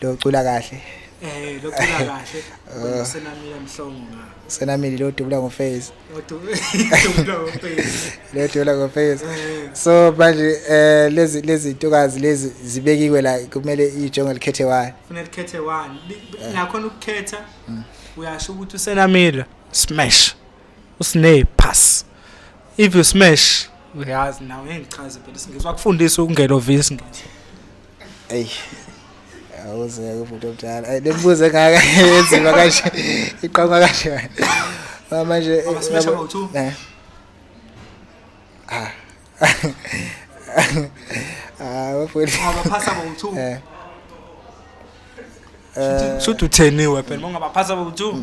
Locula kahle. Eh locula kahle. Oh. Senamile mhlongo. Senamile lo dubula ngo face. Lo dubula ngo face. Lo dubula ngo face. Eh. So manje eh lezi lezi ntokazi lezi zibekiwe la kumele ijonge likhethe one. Kufanele likhethe one. Nakhona ukukhetha mm. uyasho ukuthi usenamile smash. usine pass if you smash uyazi nawe ngeke ngichaze phela singizwa kufundisa ukungelovisi ngithi Ey. Awuze ngeke umuntu omdala. Ay lembuzo engaka enzima kanje. Iqoma kanje. Ba manje eh, Mama, smash about two. Eh. Ah. Ah, wafuni. ungabaphasa bowu-two Eh. Eh, shuthi utheniwe phela uma ungabaphasa bowu-two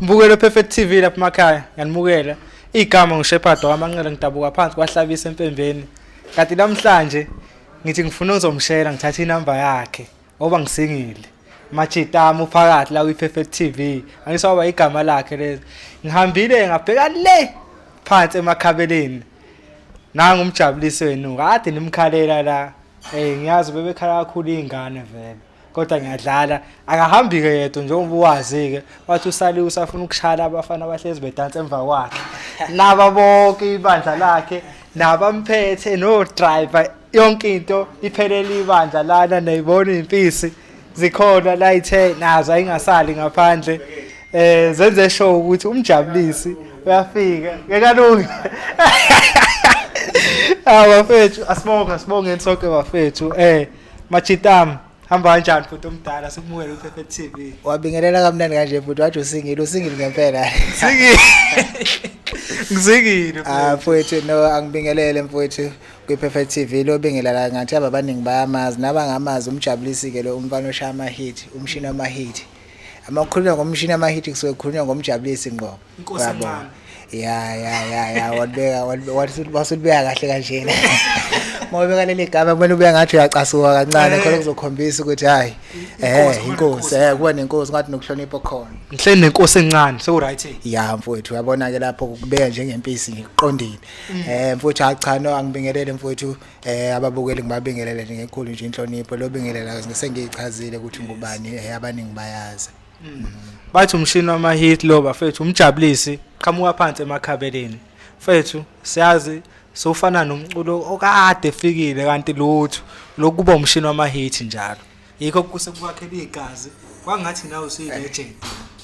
Mbukelo Perfect TV lapha emakhaya nganimukela igama nguShepherd wamanqele ngidabuka phansi kwahlabisa empembeni kanti namhlanje ngithi ngifuna uzomshela ngithatha inamba yakhe ngoba ngisingile machitama uphakathi la kwi-perfect tv angisawaba igama lakhe lezi ngihambile ngabheka le phansi emakhabeleni nangu umjabulisi wenu kade nimkhalela la um ngiyazi bebekhala kakhulu iy'ngane vele kodwa ngiyadlala akahambi-ke yedwa njengoba uwazi-ke wathi usaliwe usafuna ukushayela abafana abahlezi bedansa emva kwakhe naba bonke ibandla lakhe nabamphethe no-driver yonke into iphelele ibandla lana nayibona iy'mpisi zikhona la ithe nazo ayingasali ngaphandle eh zenze show ukuthi umjabulisi uyafika ngekalungi abafethu asibonge asibongeni sonke bafethu eh Machitam hamba kanjani futhi omdala sikumukele uPepe TV. Wabingelela kamnandi kanje futhi wathi usingile usingile ngempela. Singile. Ngizingile. Ah futhi no angibingelele mfowethu kwiPerfect TV lo bingelela ngathi ababaningi bayamazi nabangamazi umjabulisi ke lo umfana oshaya ama hit umshini ama hit. Amakhuluma ngomshini ama hit kusuke kukhulunywa ngomjabulisi ngqo. Inkosi Yabo. encane. ya ya ya ya walibeka walibeka- wathi- wathi ulibeka kahle kanjena uma ubeka leli gama kumele ubeka ngathi uyacasuka kancane Eh. khona kuzokhombisa ukuthi hhayi Inkosi, um kuba inkosi nenkosi. um kuba nenkosi ngathi nokuhlonipha okhona Ngihleli nenkosi encane seku-right. ya mfowethu uyabona-ke lapho kubeka njengempisi nje kuqondile Mm. um mfowethu hayi cha no angibingelele mfowethu um ababukeli ngibabingelele nje ngekhulu nje inhlonipho lobingelela sengiyichazile ukuthi ngubani um abaningi bayazi mm. bathi umshini wama-hit lo bafethu umjabulisi qhamuka phansi emakhabeleni fethu siyazi sofana nomculo okade efikile kanti lutho lokuba umshini wama-hit njalo yikho kusekuwakhela igazi kwangathi nawe usuyi-legend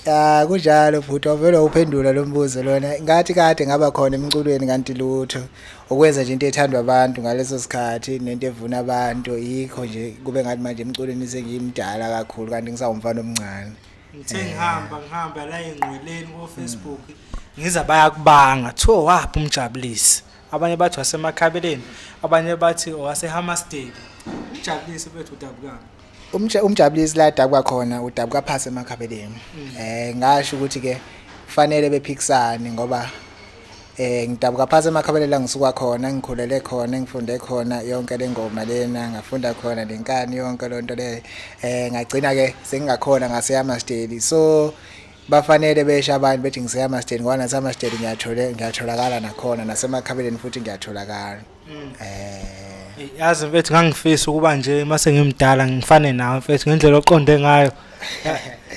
ya ah, kunjalo bhuti wavele uphendula lo mbuzo lona ngathi kade ngaba khona emculweni kanti lutho okwenza nje into ethandwa abantu ngaleso sikhathi nento evuna abantu yikho nje kube ngathi manje emculweni sengiyimdala kakhulu kanti ngisawumfana omncane ngithe eh. ngihamba ngihamba la engqweleni kofacebook ngiza bayakubanga kuthiwa waphi umjabulisi abanye bathi wasemakhabeleni abanye bathi owasehamasteli umjabulisi bethu udabukanga umtshe umjabulisi la dabuka khona udabuka phase emakhabeleni mm. eh ngasho ukuthi ke fanele bephikisane ngoba eh ngidabuka phase emakhabeleni la ngisuka khona ngikhulele khona ngifunde khona yonke lengoma lena ngafunda khona lenkani yonke lonto le eh ngagcina ke sengingakhona ngaseyama steli so bafanele besha abantu bethi ngiseyama steli ngoba nasama steli ngiyathola ngiyatholakala nakhona nasemakhabeleni futhi ngiyatholakala Mm. Eh yazi mfethu ngangifisa ukuba nje mase ngimdala ngifane nawe mfethu ngendlela oqonde ngayo.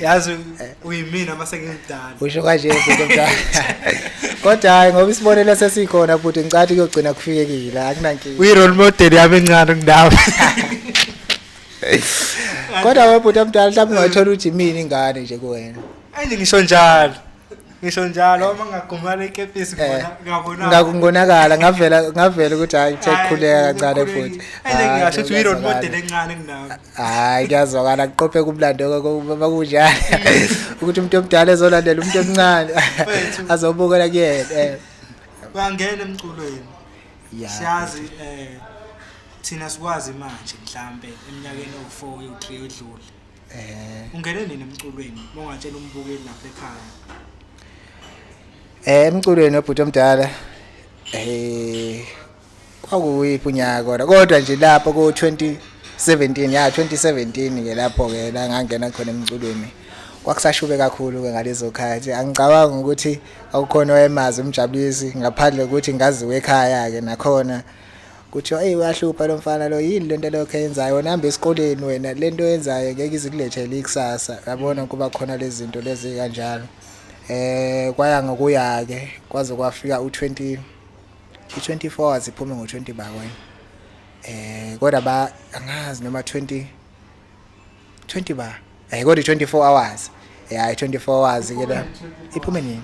Yazi uyimina mase ngimdala. Usho kanje mfethu mdala. Kodwa hayi ngoba isibonelo sesikhona futhi ngicathi kuyogcina kufikekile akunankinga. Uyi role model yami encane kundawo. Kodwa webhuti omdala mhlawumbe ungathola ujimini ingane nje kuwena. Ayi ngisho njalo. ngisho njalo uma ngagumala ikepisi Eh, ngabona ngaku- ngonakala ngavela ngavela ukuthi hayi ngithe kukhuleka kancane futhi ene Hhayi, ngingasho ukuthi uyi-role kuyazwakala. model encane kunami hayi kuyazwakala kuqophe kumlando uma kunjalo ukuthi umuntu omdala ezolandela umuntu omncane Mfethu. azobukela kuyena eh. bangena emculweni Ya. siyazi um thina sikwazi manje mhlampe eminyakeni ewu-four yowu-three edlule Eh ungene nini emculweni mongatshela umbukeli lapha ekhaya? Eh emculweni obhuti omdala eh kwakuyiphi unyaka kodwa kodwa nje lapho ku 2017 ya 2017 ke lapho ke la ngangena khona emculweni kwakusashube kakhulu ke ngalezo khathi angicabanga ukuthi awukhona oyemazi umjabulisi ngaphandle ukuthi ngaziwe ekhaya ke nakhona kuthiwa eyi uyahlupha lo mfana lo yini lento lokho eyenzayo wena hamba esikoleni wena lento oyenzayo ngeke izikulethele ikusasa yabona kuba khona lezi zinto lezi kanjalo eh kwaya ngokuya ke kwaze kwafika u20 u24 hours iphume ngo20 bakwe eh kodwa ba angazi noma 20 20 ba eh kodwa 24 hours eh 24 hours ke la iphume nini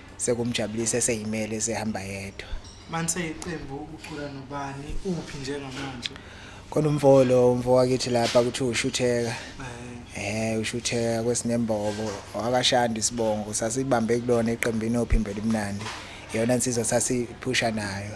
sekumjabulisa eseyimele esehamba yedwa manje iqembu ukhula nobani uphi njengamanje khona umfo lo umfo wakithi lapha kuthi ushutheka eh, eh ushutheka kwesinembobo wakashanda isibongo sasibambe kulona iqembu inophi imbelimnandi yona insizwa sasiphusha nayo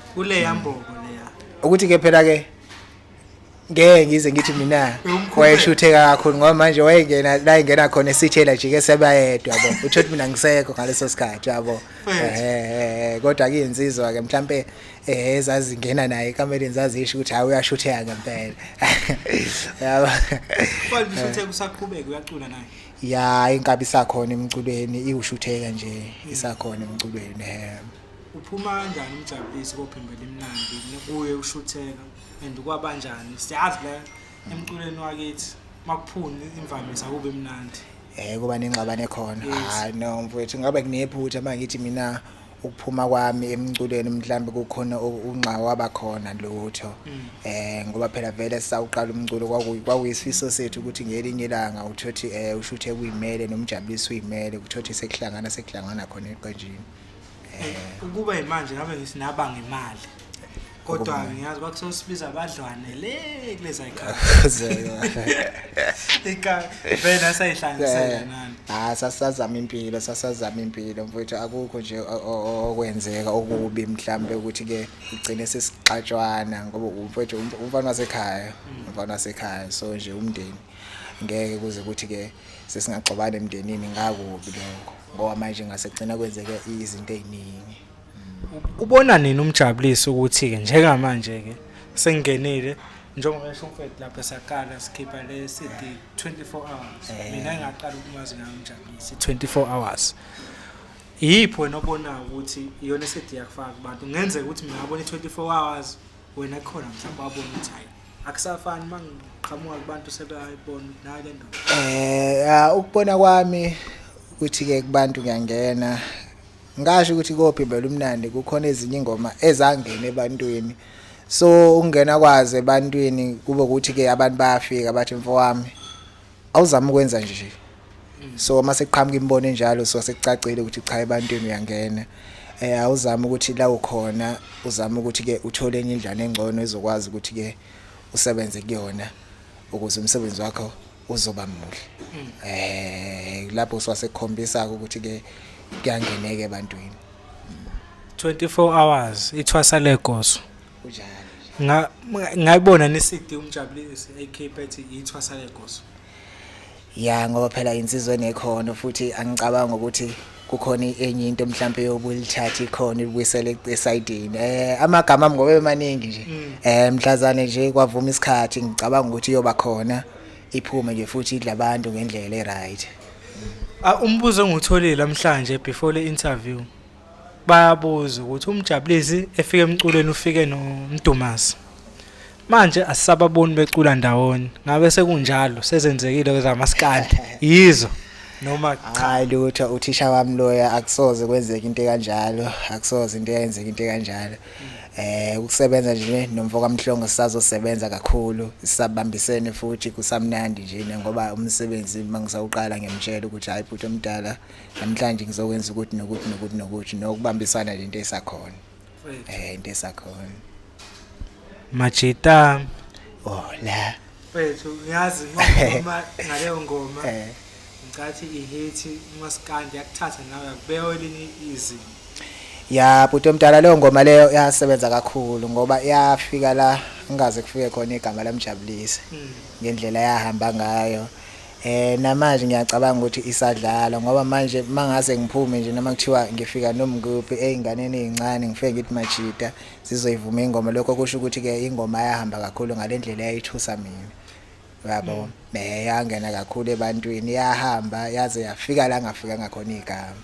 kuleya mbobo leya ukuthi ke phela ke ngeke ngize ngithi mina wayeshutheka kakhulu ngoba manje wayengena la ingena khona esithela jike sebayedwa bo utho ukuthi mina ngisekho ngaleso sikhathi yabo eh kodwa ke insizwa ke mhlambe eh ezazingena naye ekameleni zazisho ukuthi hayi uyashutheka ngempela yabo kodwa ushuthe kusaqhubeka uyacula naye ya inkabi sakhona emculweni iwushutheka nje isakhona emculweni eh Uphuma kanjani umjabulisi kophimbo elimnandi kuye ushutheka and kwabanjani siyazi la emculweni wakithi makuphuni imvamisa kube mnandi eh kuba nengxabane khona hayi no mfowethu ngabe kunephutha manje ngithi mina ukuphuma kwami emculweni mhlambe kukhona unxa waba khona lutho mm. eh ngoba phela vele sawuqala umculo kwakuyisifiso sethu ukuthi ngelinye ilanga uthothi eh ushuthe kuyimele nomjabulisi uyimele kuthothi sekuhlangana sekuhlangana khona eqenjini Eh, ukuba imanje ngabe ngisinaba ngemali kodwa ngiyazi bakusosibiza abadlwane le kuleza ikavena sayihlangisela eh, nani hayi ah, sasazama impilo sasazama impilo mfowethu akukho nje okwenzeka okubi mhlambe ukuthi ke igcine sesixatshwana ngoba mfowethu um, umfana wasekhaya mm. umfana wasekhaya so nje umndeni ngeke kuze ukuthi ke sesingagxobana emndenini ngakubi lokho ngoba manje ngasegcina kwenzeke izinto eziningi ubona nini umjabulisi ukuthi ke njengamanje ke sengenile njengoba esho umfethu lapho saqala sikhipha le CD 24 hours eh. mina ngaqala ukumazi ngayo umjabulisi 24 hours yipho wena obonayo ukuthi iyona CD yakufaka kubantu ngenzeka ukuthi mina ngabona 24 hours wena khona mhlawumbe wabona ukuthi hayi akusafani mangiqhamuka kubantu sebeyayibona nayo le ndoda eh ah, ukubona kwami ukuthi ke kubantu ngiyangena ngasho ukuthi kophi vele umnandi kukhona ezinye ingoma ezangena ebantwini so ukungena kwazi ebantwini kube ukuthi ke abantu bayafika bathi mfowami awuzama ukwenza nje so uma sekuqhamuka imibono enjalo so sekucacile ukuthi cha ebantwini uyangena eh awuzama ukuthi la ukhona uzama ukuthi ke uthole enye indlana engcono ezokwazi ukuthi ke usebenze kuyona ukuze umsebenzi wakho uzoba muhle eh lapho swasekhombisa ukuthi ke kuyangeneke ebantwini 24 hours ithwasa legoso kunjalo ngayibona nisidi umjabulisi ekhiphe ethi ithwasa legoso ya ngoba phela insizwa enekhono futhi angicabanga ukuthi kukhona enye into mhlawumbe yobulithatha ikhona ibuyisele esayidini eh amagama ami ngoba emaningi nje mm. eh mhlazane nje kwavuma isikhathi ngicabanga ukuthi iyoba khona iphume nje futhi idla abantu ngendlela eright ah, umbuzo engutholile namhlanje before le interview bayabuza ukuthi umjabulisi efika emculweni ufike nomdumazi manje asisababoni becula ndawonye ngabe sekunjalo sezenzekile kwezamaskandi yizo noma cha lutho uthisha wami loya akusoze kwenzeka into kanjalo akusoze into eyenzeka into kanjalo eh ukusebenza nje nomfo kaMhlongo sisazosebenza kakhulu sisabambisene futhi kusamnandi nje ngoba umsebenzi mangisawuqala ngiyamtshela ukuthi hayi bhuti omdala namhlanje ngizokwenza ukuthi nokuthi nokuthi nokuthi nokubambisana lento esakhona eh into esakhona majita oh la mfethu ngiyazi ngoma ngaleyo ngoma eh ngicathi ihithi umaskandi yakuthatha nawe yakubeka elinye izinto ya bhuti omdala leyo ngoma leyo yasebenza kakhulu ngoba yafika la ngaze kufike khona igama lamjabulisa hmm. ngendlela yahamba ngayo Eh namanje ngiyacabanga ukuthi isadlala ngoba manje mangase ngiphume nje noma kuthiwa ngifika nomnguphi einganeni ezincane ngifike ngithi majita sizoyivuma ingoma lokho kusho ukuthi ke ingoma yahamba kakhulu ngalendlela yayithusa mina yabo mm. ne yangena kakhulu ebantwini yahamba yaze yafika la ngafika ngakhona igama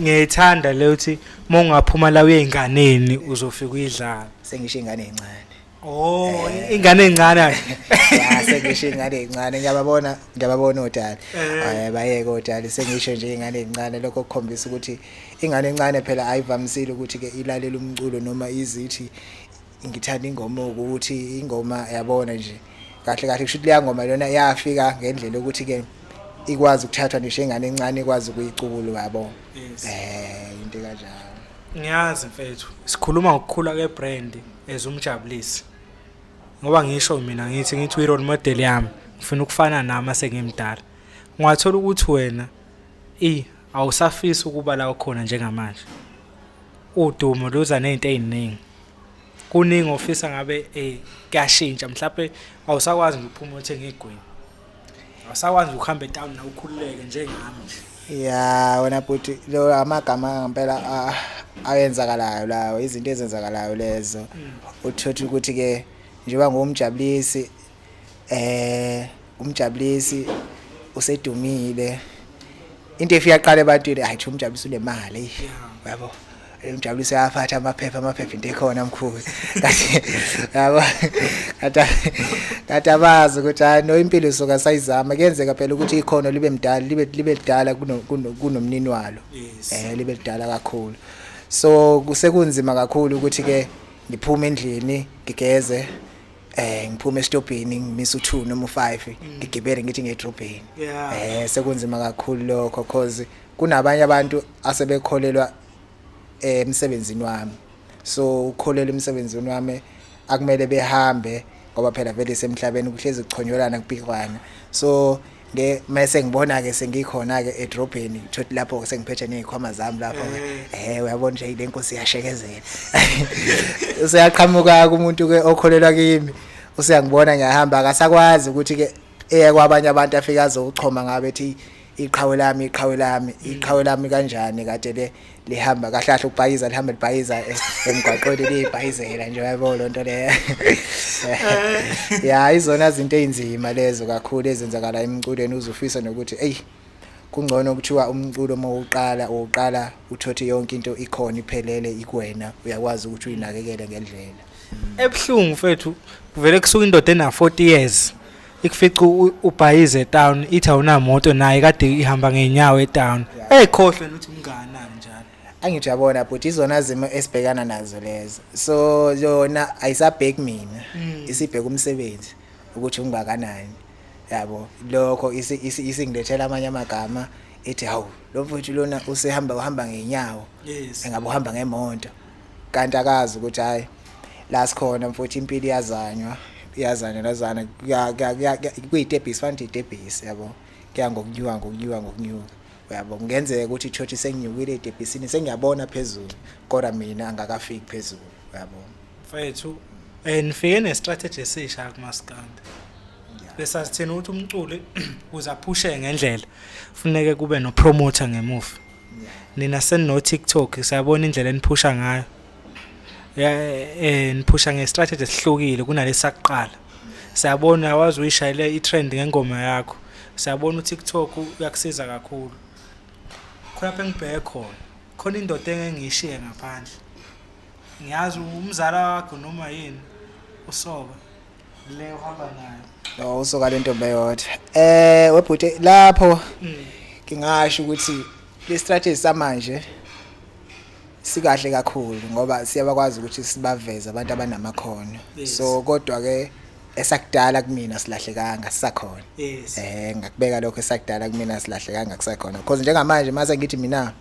ngiyithanda le uthi uma ungaphuma la uye enganeni uzofika uyidlala sengisho ingane encane Oh, ingane encane ayi. Ya sengisho ingane encane ngiyababona ngiyababona odala. Eh bayeke odala sengisho nje ingane encane lokho kukhombisa ukuthi ingane encane phela ayivamisile ukuthi ke ilalela umculo noma izithi ngithanda ingoma ukuthi ingoma yabona nje. Kahle kahle kusho ukuthi leya ngoma lona yafika ngendlela ukuthi ke ikwazi ukuthathwa ngisho ingane encane ikwazi ukuyicubula yabo. Eh into kanjalo. Ngiyazi mfethu. Sikhuluma ngokukhula ke brand. as umjabulisi ngoba ngisho mina ngithi ngithi uyi-role model yami ngifuna ukufana nami asengimdala ungathola ukuthi wena i awusafisi ukuba la ukhona njengamanje udumo luza nezinto eziningi kuningi ofisa ngabe eh kuyashintsha mhlawumbe awusakwazi ukuphuma uthenge igwini Awusakwazi ukuhamba etown na ukhululeke njengami nje. Yeah, wena bhuti lo amagama ngempela a- ayenzakalayo lawo, izinto ezenzakalayo lezo. Uthothi ukuthi ke njengoba ngumjabulisi eh umjabulisi usedumile. Into efika qala ebantwini ayi cha umjabulisi unemali. Yabo. Umjabuliso yafatha amaphepha amaphepha into ekhona mkhulu kathi yabo kathi kathi abazi ukuthi hayi no impilo soka sayizama kuyenzeka phela ukuthi ikhono libe mdala libe libe lidala kunomnini walo eh libe lidala kakhulu so kusekunzima kakhulu ukuthi ke ngiphume endlini ngigeze eh ngiphume estobhini ngimisa u2 noma u5 mm. ngigibele ngithi ngedrobheni eh sekunzima kakhulu lokho cause kunabanye abantu asebekholelwa eh, emsebenzini wami so ukholelwa emsebenzini wami akumele behambe ngoba phela vele semhlabeni kuhlezi kuchonyolana kupikwana so nge mase ngibona ke sengikhona ke edrobheni thothi lapho sengiphethe nezikhwama zami lapho eh, eh uyabona nje le nkosi yashekezela useyaqhamuka kumuntu ke okholelwa kimi useyangibona ngiyahamba akasakwazi ukuthi ke eye kwabanye abantu afika azochoma ngabe ethi iqhawe lami iqhawe lami iqhawe lami kanjani kade le lihamba kahle kahle ubhayiza lihamba libhayiza e- emgwaqweni libhayizela nje yabo lo nto leyo ya izona izinto ezinzima lezo kakhulu ezenzakala emculweni uzufisa nokuthi eyi kungcono kuthiwa umculo uma uqala uqala uthothi yonke into ikhona iphelele ikwena uyakwazi ukuthi uyinakekele ngendlela ebuhlungu mfethu kuvele kusuka indoda ena 40 years ikufica u- ubhayize etown ithi awunamoto naye kade ihamba ngeenyawo etown eyikhohlwe nokuthi umnganani njalo angithi uyabona bhuti izona zimo esibhekana nazo lezo so yona ayisabheki mina isibheka umsebenzi ukuthi ungakanani yabo lokho isi- isi- isingilethela amanye amagama ethi hawu lo mfowethu lona usehamba uhamba ngenyawo Yes. engabe uhamba ngemonto kanti akazi ukuthi hayi la sikhona mfowethu impilo iyazanywa iyazanywa nazana kuyitebhisi fanele itebhisi yabo kuya ngokunyuka ngokunyuka ngokunyuka uyabo kungenzeka ukuthi ichurch senginyukile etebhisini sengiyabona phezulu kodwa mina angakafiki phezulu uyabo mfethu eh nifike ne strategy esisha kumaskanda besa sithena ukuthi umculi uzaphushe ngendlela funeke kube no promoter ngemuva nina senino TikTok siyabona indlela eniphusha ngayo eh niphusha ngestrategy esihlukile kunalesakuqala siyabona wazi uyishayele itrend ngengoma yakho siyabona uTikTok uyakusiza kakhulu khona phe ngibheke khona khona indoda engengiyishiye ngaphandle ngiyazi umzala wakho noma yini usoka le uhamba nayo no usoka lento beyodwa eh webhute lapho mm. ngingasho ukuthi le strategy samanje sikahle kakhulu ngoba siyabakwazi ukuthi sibaveze abantu abanamakhono so kodwa ke esakudala kumina silahlekanga sisakhona eh ngakubeka lokho esakudala kumina silahlekanga kusakhona because njengamanje mase ngithi mina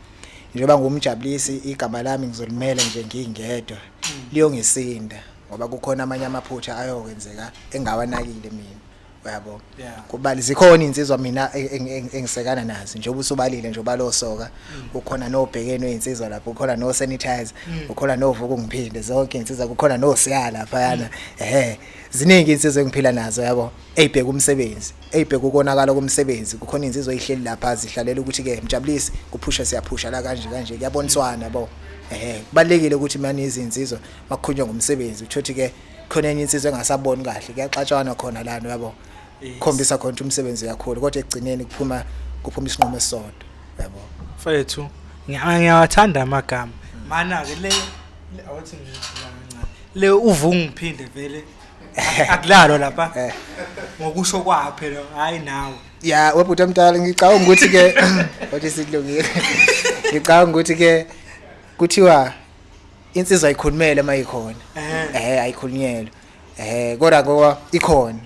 njengoba ngumjabulisi igama lami ngizolimela nje ngingedwa mm. liyongisinda ngoba kukhona amanye amaphutha ayokwenzeka engawanakile mina uyabo kubali zikhona insizwa mina engisekana nazo njengoba usubalile nje ubalosoka mm. ukhona nobhekeno insizwa lapho ukhona no sanitizer mm. ukhona novuku ngiphinde zonke insizwa kukhona no siya lapha yana mm. ehe ziningi insizwa engiphila nazo yabo eyibheka umsebenzi eyibheka ukonakala komsebenzi kukhona insizwa eyihleli lapha zihlalela ukuthi ke mjabulisi kuphusha siyaphusha la kanje kanje kuyaboniswana bo ehe kubalekile ukuthi manje izinsizwa makukhulunywa ngomsebenzi uthothi ke khona enye insizwe engasaboni kahle kuyaxatshanwa khona lana yabo khombisa khona ukuthi umsebenzi uyakhulu kodwa ekugcineni kuphuma kuphuma isinqumo esisodwa yabo mfethu ngiyawathanda amagama mana ke le awuthi nje le uvungiphinde vele akulalwa lapha eh. ngokusho kwakhe phela hayi nawe ya webhuti omdala ngicabanga ukuthi ke wathi sikulungile ngicabanga ukuthi ke kuthiwa insizwa ayikhulumele uma ikhona eh ayikhulunyelwe eh kodwa ngoba ikhona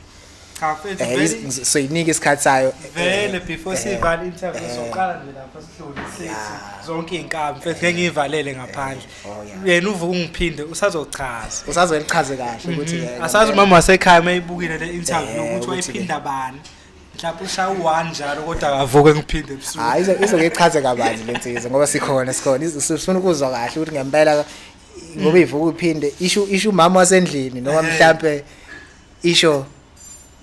cha mfethu eh, vele soyinika isikhathi sayo vele eh, before eh, sivala interview soqala nje lapha sihlule sithi zonke izinkabi mfethu ngeke ngivalele ngaphandle oh, yena uvuka ungiphinde usazochaza usazolichaze kahle ukuthi mhm. asazi umama wasekhaya mayibukile le interview ukuthi wayiphinda bani mhlawumbe ushaya u-one njalo kodwa akavuke ngiphinde ebusuku hayi izo- izokechaze kabanzi le nsizwa ngoba sikhona sikhona Izo- sifuna ukuzwa kahle ukuthi ngempela ngoba ivuka iphinde isho isho umama wasendlini noma Ehhe. mhlampe isho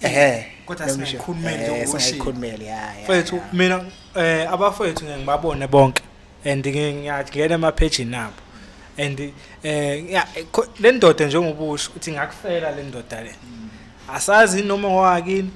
ehe Kodwa noma isho- singayikhulumeli eh, njengoba ushilo. singayikhulumeli ya ya, mfethu ya. mina eh abafethu ngeke ngibabone bonke and ngiyangena emaphejini abo and eh le ndoda njengoba usho uthi ngakufela le ndoda le asazi noma ngowakini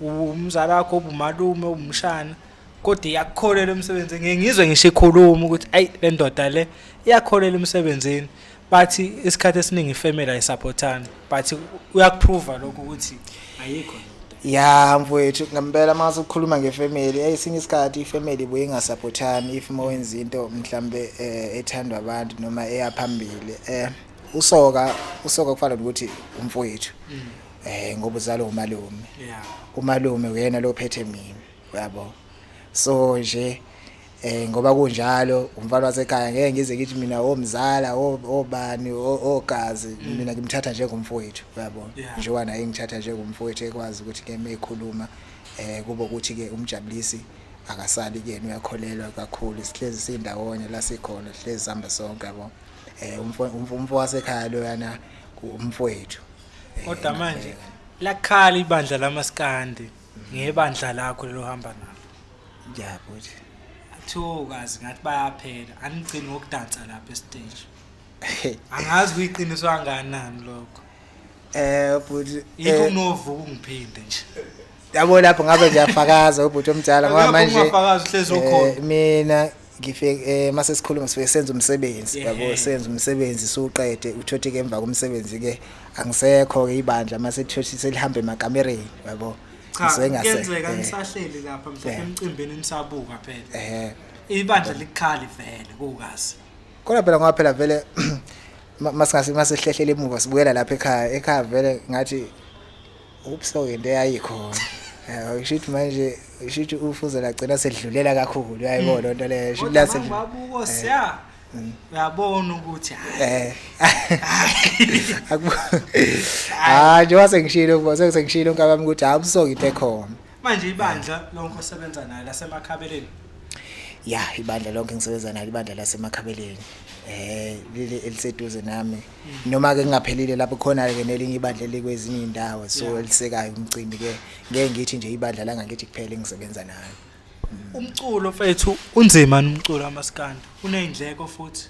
umzala wakho ubumalume ubumshana kodwa iyakukholela emsebenzini ngiyizwe ngisho ikhuluma ukuthi ayi le ndoda le iyakholela emsebenzini but isikhathi esiningi ifamily ayisupportani but uyakuprova lokho ukuthi ayikho ya mfowethu ngempela uma ukhuluma ngefamily esinye isikhathi ifamily buye ingasupportani if uma wenza into mhlambe eh, ethandwa abantu noma eyaphambili eh usoka usoka kufana nokuthi umfowethu mm. eh ngoba uzalo umalume umalume uyena lo phethe mina uyabo so nje Eh ngoba kunjalo umfana wasekhaya ngeke ngize ngithi mina omzala obani ogazi mm. mina ngimthatha njengomfowethu uyabo njengoba naye ngithatha njengomfowethu ekwazi ukuthi ke mekhuluma eh kubo ukuthi ke umjabulisi akasali kuyena uyakholelwa kakhulu sihlezi sindawonye la sikhona sihlezi sihamba sonke yabo eh umfo umfo wasekhaya lo yana umfowethu kodwa eh, manje eh. lakhala ibandla lamaskandi ngebandla lakho lelo hamba nalo ya bhuti kuthiwa kazi ngathi bayaphela anigcini ngokudansa lapha esiteji angazi kuyiqiniso anganani lokho eh bhuti yikho eh, unovuka ungiphinde nje yabo lapho ngabe ngiyafakaza ubhuti omdala ngoba manje mina ngifike eh mase sikhuluma sifike senza umsebenzi yabo senza umsebenzi suqede uthothi ke emva komsebenzi ke angisekho ke ibandla mase thothi selihambe emakamereni yabo cha kuyenzeka nisahleli lapha mhlawumbe emcimbini nisabuka phela ehe ibandla likhali vele kukazi kodwa phela ngoba phela vele masingase masehlehlele emuva sibuyela lapha ekhaya ekhaya vele ngathi ubuso into eyayikhona eh, usho ukuthi manje usho ukuthi ufuze lagcina sedlulela kakhulu uyayibona mm. lonto leyo usho ukuthi lase babuko eh. siya mm. uyabona ukuthi eh ah nje wase ngishilo ukuba sengishilo ngabami ukuthi hayi ubuso into ekhona manje ibandla lonke osebenza nayo lasemakhabeleni ya ibandla lonke ngisebenza nalo ibandla lasemakhabeleni eh leli eliseduze nami noma ke kungaphelile lapho khona ke nelinye ibandla likwezinye indawo so elisekayo umcimbi ke ngeke ngithi nje ibandla la ngakithi kuphela engisebenza nayo umculo mfethu unzima umculo kamaskandi unezindleko futhi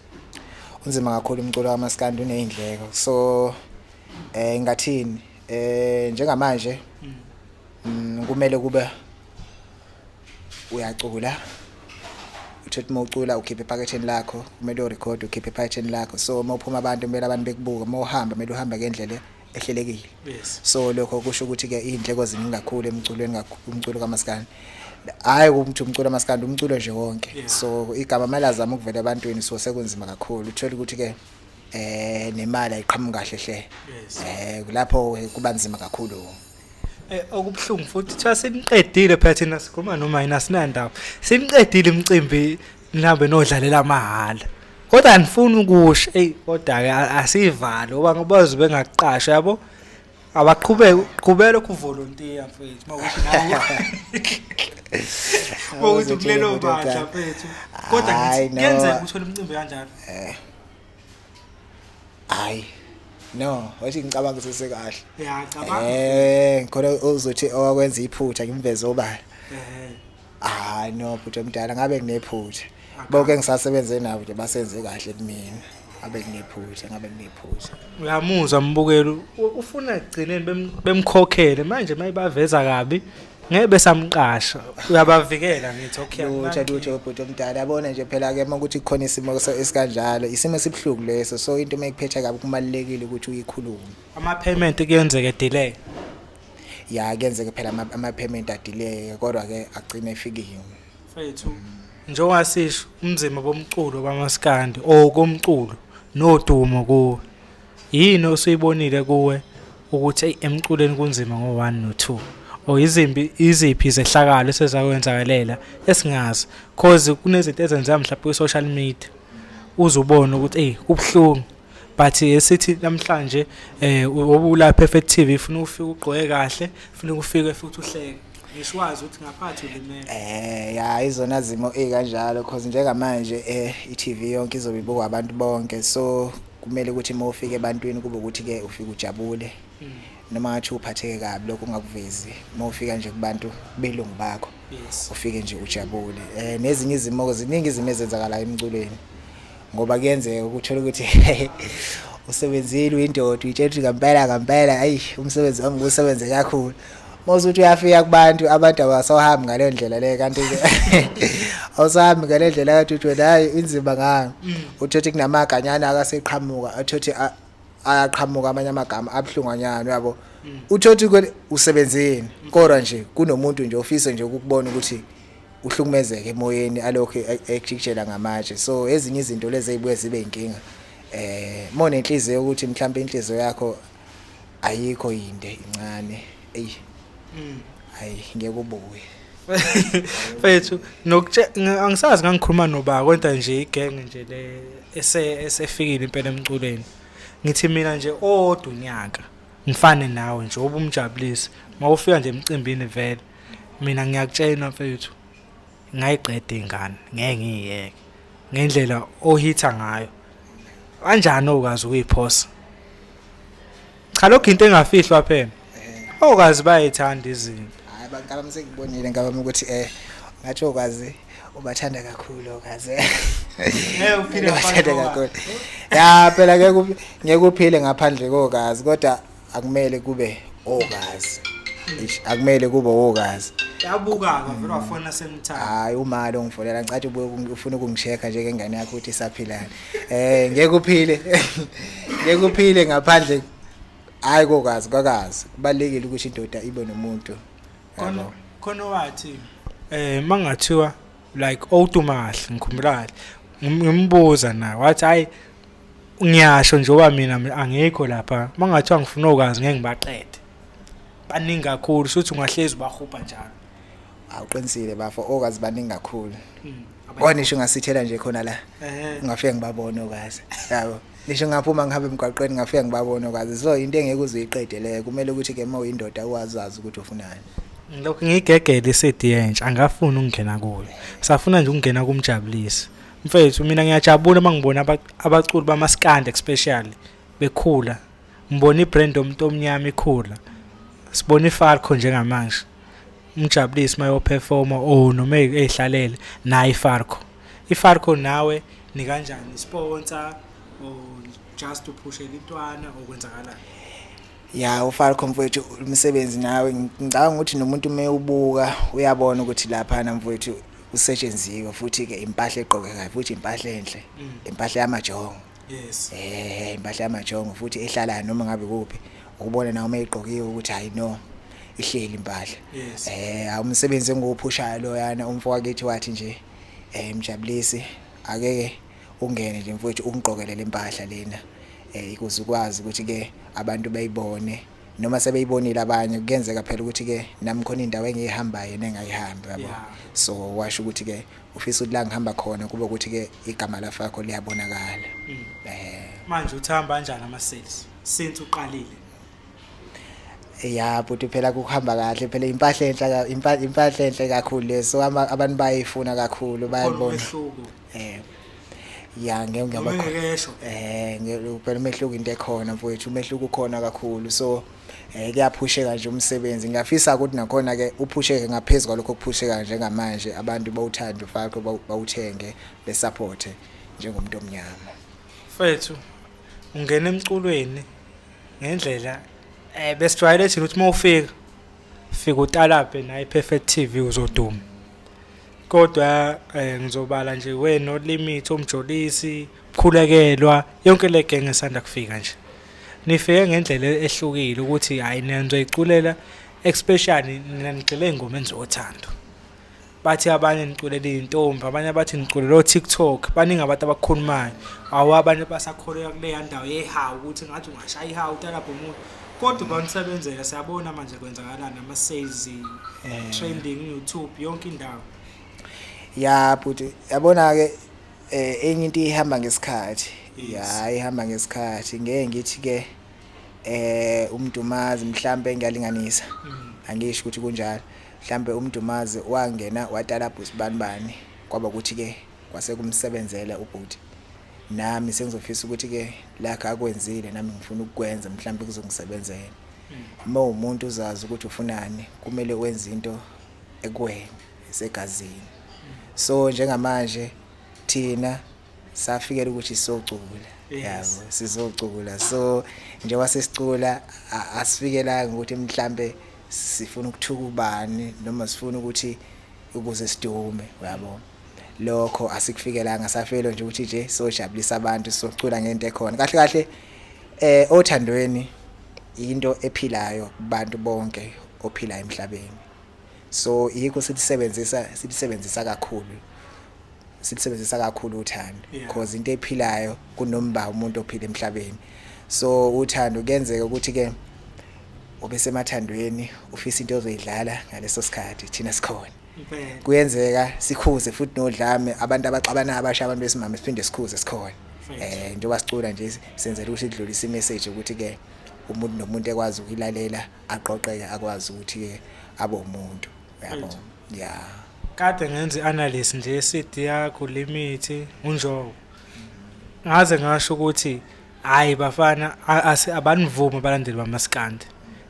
unzima kakhulu umculo kamaskandi unezindleko so eh ngathini eh njengamanje mm. mm, kumele kube uyacula uthi uma ucula ukhiphe ephaketheni lakho kumele urekhode ukhiphe ephaketheni lakho so uma uphuma abantu kumele abantu bekubuke uma uhamba kumele uhambe ngendlela ehlelekile yes so lokho kusho ukuthi ke izindleko ziningi kakhulu emculweni kakhulu umculo kamaskandi hayi ukuthi umculo kamaskandi umculo nje wonke Yeah. so igama mali azama ukuvela ebantwini so sekunzima kakhulu uthole ukuthi ke eh nemali ayiqhamuka kahle hle Yes. eh kulapho ke kuba nzima kakhulu Eh, okubuhlungu futhi kuthiwa siniqedile phela thina sikhuluma noma yini asinandaba siniqedile imicimbi nihambe nodlalela amahhala kodwa anifuni ukusho eyi kodwa-ke asiyivali ngoba ngobazi bengakuqasha yabo abaqhubeke qhubela lokhu volunteer mfethu mawuthi nawe mawuthi kulelo bandla mfethu kodwa ngithi kuyenzeka uthole umcimbi kanjalo eh. hayi no wathi ngicabanga sese kahle ya cabanga eh khona uzothi owakwenza iphutha ngimveze obala eh hayi no phutha mdala ngabe nginephutha bonke ngisasebenze nabo nje basenze kahle kumina ngabe nginephutha ngabe nginephutha uyamuzwa mbukelo ufuna ekugcineni bemkhokhele manje mayibaveza kabi ngeke besamqasha uyabavikela ngithi okay lutho lutho ubhuti omdala yabona nje phela ke uma ukuthi kukhona isimo esikanjalo isimo esibuhlungu leso so into uma ikuphetha kabi kumalekile ukuthi uyikhulume ama payment kuyenzeka delay ya kuyenzeka phela ama payment adelay kodwa ke agcine efikile mfethu njengoba sisho umzimba bomculo bamaskandi or komculo nodumo kuwe Yini osuyibonile kuwe ukuthi eyi emculweni kunzima ngo-1 no-2 or izimbi iziphi izehlakalo esezakwenzakelela esingazi cause kunezinto ezenzeka mhlawumbe kwi-social media uzubona ukuthi eyi kubuhlungu but esithi namhlanje um obulapha efe TV funa ufike ugqoke kahle funa ukufike futhi uhleke ngiswazi ukuthi ngaphathi ulimele eh ya izona zimo ezikanjalo cause njengamanje eh iTV yonke izobe ibukwa abantu bonke so kumele ukuthi uma ufika ebantwini kube ukuthi-ke ufike ujabule mm. noma ngathi uphatheke kabi lokho ungakuvezi uma ufika nje kubantu belungu bakho ufike nje ujabule um nezinye izimo-ke ziningi izimo ezenzakalayo emculweni ngoba kuyenzeka ukuthola ukuthi usebenzile uyindoda uyitshela ukuthi ngampela ngampela ayi umsebenzi wami kusebenze kakhulu mawusuthi uyafika kubantu abantu abasahambi ngaleyo ndlela le kanti ke awusahambi ngale ndlela kanti uthi wena hayi inzima ngani mm. uthothi kunamaganyana akaseqhamuka athothi ayaqhamuka amanye amagama abuhlunganyana uyabo mm. uthothi usebenzeni mm. kodwa nje kunomuntu nje ofisa nje ukubona ukuthi uhlukumezeke emoyeni alokho e-, ekujikijela ngamatshe so ezinye izinto lezi ezibuye zibe inkinga eh mone inhliziyo ukuthi mhlawumbe inhliziyo yakho ayikho yinde incane eyi mm. hayi ngeke ubuye fethu angisazi ngangikhuluma noba kodwa nje igenge nje le esefikile impela emculweni ngithi mina nje owodwa unyaka ngifane nawe nje obumjabulisi mawufika nje emcimbini vele mina ngiyakutshela mfethu ngayiqeda ingane ngeke ngiyeke ngendlela ohitha ngayo kanjani okwazi ukuyiphosa cha lokho into engafihlwa phela eh. okwazi bayithanda izinto hayi bankaba msengibonile ngaba ukuthi eh ngathi okwazi ubathanda kakhulu okaze ngeke uphile ubathanda kakhulu ya phela ngeke ngeke uphile ngaphandle kokazi kodwa akumele kube okazi Eish, akumele kube okazi yabukaka vele wafona semthatha hayi umali ongifonela ngicathi ubuye ukungi- ufuna ukungishekha njengengane yakho ukuthi isaphilani um ngeke uphile ngeke uphile ngaphandle hhayi kokazi kwakazi kubalulekile ukuthi indoda ibe nomuntu khona yabo. khona wathi eh mangathiwa like owutumahle ngikhumbulale ngim- ngimbuza naye wathi hayi ngiyasho njengoba mina angikho lapha mangathiwa ngifuna okwazi ngeke ngibaqede baningi kakhulu shuthi ungahlezi ubahubha njalo awuqinisile bafo okazi baningi kakhulu hmm, bona isho ngasithela nje khona la ngafike ngibabona okazi yabo ngisho ngaphuma ngihambe emgwaqweni ngafike ngibabona okazi so into engeke uziyiqede leyo kumele ukuthi ke uma uyindoda uwazazi ukuthi ufunani lokhu ngigegele iSeed yentsha angafuni ukungena kuyo safuna nje ukungena kumjabulisi mfethu mina ngiyajabula uma ngibona abaculi bamaskandi especially bekhula ngibona ibrand yomuntu omnyama ikhula sibona ifalco njengamanje umjabulisi uma yoperforma o oh, noma eyihlalele naye ifalco ifalco nawe nikanjani sponsor or just uphushe litwana okwenzakalayo Ya uFalco mfowethu umsebenzi nawe ngicabanga ukuthi nomuntu uma ubuka uyabona ukuthi laphana mfowethu usetshenziwe futhi-ke impahla egqokekayo futhi impahla enhle mm. impahla yamajongo yes eh impahla yamajongo futhi ehlalayo noma ngabe kuphi ukubona nawe uma igqokiwe ukuthi hayi no ihleli impahla yes. eh awumsebenzi engiwuphushayo loyana umfowakethu wathi nje eh mjabulisi akeke Ungene nje mfwethu ungigqokele le mpahla lena um ukuze ukwazi ukuthi-ke abantu bayibone noma sebeyibonile abanye kuyenzeka phela ukuthi-ke nami khona indawo engiyihambayo yena engayihambi yabo so washo ukuthi-ke ufisa ukuthi la ngihamba khona kube ukuthi-ke igama lafakho liyabonakala um manje uthi hamba kanjani ama-sales since uqalile ya bhuti phela kuhamba kahle phela impahla enhle impahla enhle kakhulu le so abantu bayayifuna kakhulu bayayibona eh ya ngeke ngiyaba eh ngempela umehluko into ekhona mfowethu umehluko ukhona kakhulu so eh kuyaphusheka nje umsebenzi ngiyafisa ukuthi nakhona ke uphusheke ngaphezulu kwalokho kuphusheka njengamanje abantu bawuthanda ufakho bawuthenge besupport njengomuntu omnyama mfethu ungena emculweni ngendlela eh besijwayele thina ukuthi mawufika fika utalabhe naye perfect TV uzoduma kodwa eh, ngizobala nje we no limit omjolisi khulekelwa yonke le gang esanda kufika nje nifike ngendlela ehlukile ukuthi hayi niyangizoyiculela especially nina nigxile engomeni zothando bathi abanye niculela izintombi abanye bathi niculela o-tiktok baningi abantu abakhulumayo awu abanye basakholelwa kuleya ndawo yehawu ukuthi ngathi ungashaya ihawu utalabha umuntu kodwa kwanisebenzela siyabona manje kwenzakalani ama sales eh. trending YouTube yonke indawo ya bhuti yabona ke eh, enye into ihamba ngesikhathi ya ihamba ngesikhathi ngeke ngithi ke eh umdumazi mhlambe ngiyalinganisa mm. angisho ukuthi kunjalo mhlambe umdumazi wangena watala bhusi bani bani kwaba ukuthi ke kwase kumsebenzela ubhuti nami sengizofisa ukuthi ke lakhe akwenzile nami ngifuna ukukwenza mhlawumbe kuzongisebenzela uma umuntu uzazi ukuthi ufunani kumele wenze into ekuwena esegazini so njengamanje thina safikela ukuthi socula yabo sizocula so njengoba sesicula asifikelanga ukuthi mhlambe sifuna ukuthuka ubani noma sifuna ukuthi ukuze sidume yabo lokho asikufikelanga safelo nje ukuthi nje sojabulisa abantu socula ngento ekhona kahle kahle eh othandweni into ephilayo kubantu bonke ophila emhlabeni so yikho silisebenzisa silisebenzisa kakhulu silisebenzisa kakhulu uthando because into ephilayo kunomba umuntu ophila emhlabeni so uthando kuyenzeka ukuthi ke obesemathandweni ufisa into ozoyidlala ngaleso sikhathi thina sikhona kuyenzeka sikhuze futhi nodlame abantu abaxabanayo abasha abantu besimame siphinde sikhuze sikhona eh njengoba sicula nje senzela ukuthi idlulise imessage ukuthi ke umuntu nomuntu ekwazi ukuyilalela aqoqeke akwazi ukuthi ke abe umuntu yabo ya kade ngenza analysis nje seed yakho limithi unjobo ngaze ngasho ukuthi hayi bafana abanivumi abalandeli bamaskandi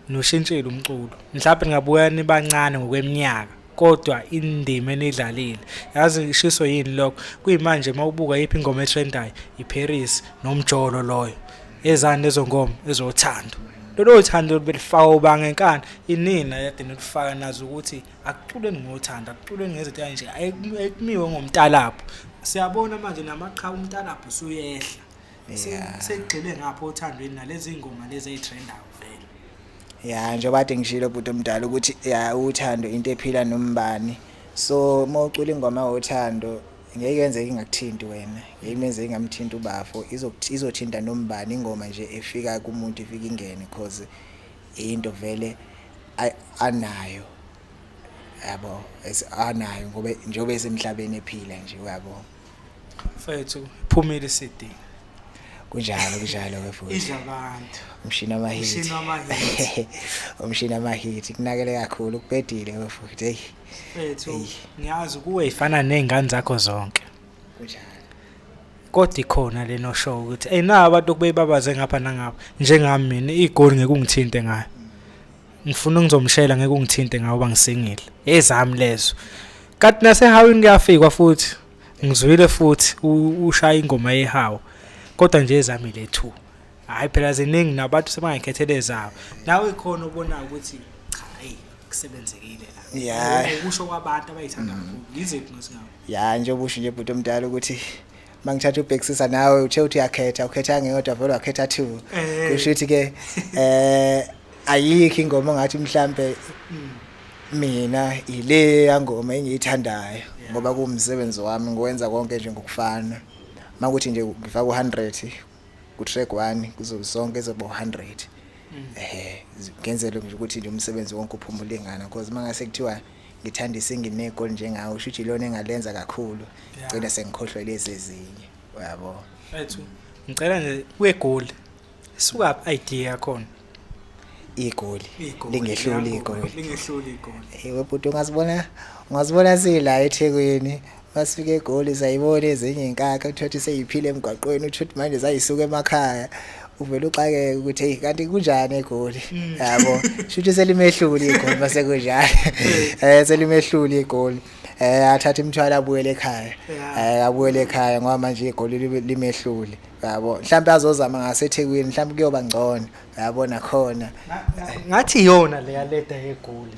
noshintshile umculo mhlawumbe ningabuya nibancane ngokweminyaka kodwa indima enidlalile yazi ngishiso yini lokho kuyimanje uma ubuka yiphi ingoma etrendayo iparis nomjolo loyo ezani lezo ngoma ezothando lolo thando belifaka ubanga enkani inina yadini ukufaka nazo ukuthi akuculeni ngothando akuculeni ngezinto kanje ayikumiwe ngomtalapho siyabona manje namaqhawe umtalapho usuyehla Yeah. Sekugxile ngapho othandweni nalezi ngoma lezi ezitrendayo vele. Yeah, njengoba ade ngishilo bhuti omdala ukuthi yeah uthando into ephila nombani. So mawucula ingoma wothando ngeke yenze ingakuthinti wena ngeke menze ingamthinti ubafo izothinta nombani ingoma nje efika kumuntu ifika ingene cause into vele anayo yabo anayo ngoba njengoba esemhlabeni ephila nje uyabo mfethu phumile CD kunjalo kunjalo ke futhi idla abantu umshini wamahit umshini wamahit umshini wamahit kunakele kakhulu kubhedile ke futhi hey mfethu ngiyazi kuwe ifana nezingane zakho zonke kunjalo kodwa ikhona leno show ukuthi hey na abantu okubebabaze ngapha nangapha njengami mina igoli ngeke ungithinte ngayo ngifuna ungizomshela ngeke ungithinte ngawo bangisingile ezami lezo kanti nasehawini kuyafikwa futhi ngizwile futhi ushaya ingoma yehawu kodwa nje ezami le two hayi phela ziningi nabantu sebangayikhethele zabo nawe khona ubona ukuthi hayi kusebenzekile la yeah ukusho kwabantu abayithanda mm. kakhulu yiziphi ngesingawo yeah njengoba usho nje bhuti omdala ukuthi mangithatha ubhekisisa nawe uthe uthi yakhetha ukhetha ngeyodwa vele wakhetha two eh. kusho ukuthi ke eh ayikho ingoma ngathi mhlambe hmm. mina ile yangoma engiyithandayo ngoba kuwumsebenzi wami ngiwenza konke nje ngokufana makuthi nje ngifaka u100 ku track 1 kuzo sonke zobo 100 hmm. ehe ngenzele nje ukuthi nje umsebenzi wonke uphumule ngana because mangase kuthiwa ngithanda isingi negoli njengawe usho ukuthi ilona engalenza kakhulu gcina sengikhohlwe lezi ezinye uyabo ethu ngicela nje kwegoli suka idea yakhona igoli lingehluli igoli lingehluli igoli ewe bhuti ungazibona ungazibona sila eThekwini masifika egoli zayibona ezinye inkakha uthola ukuthi seyiphile emgwaqweni uthola ukuthi manje zayisuka emakhaya uvele uxakeke ukuthi hey kanti kunjani egoli mm. yabo shuthi selimehluli igoli mase kunjani eh selimehluli igoli eh athatha imthwalo abuyele ekhaya eh abuyele ekhaya ngoba manje igoli limehluli yabo mhlawumbe azozama ngaseThekwini mhlawumbe kuyoba ngcono yabo nakhona ngathi yona leya leda yegoli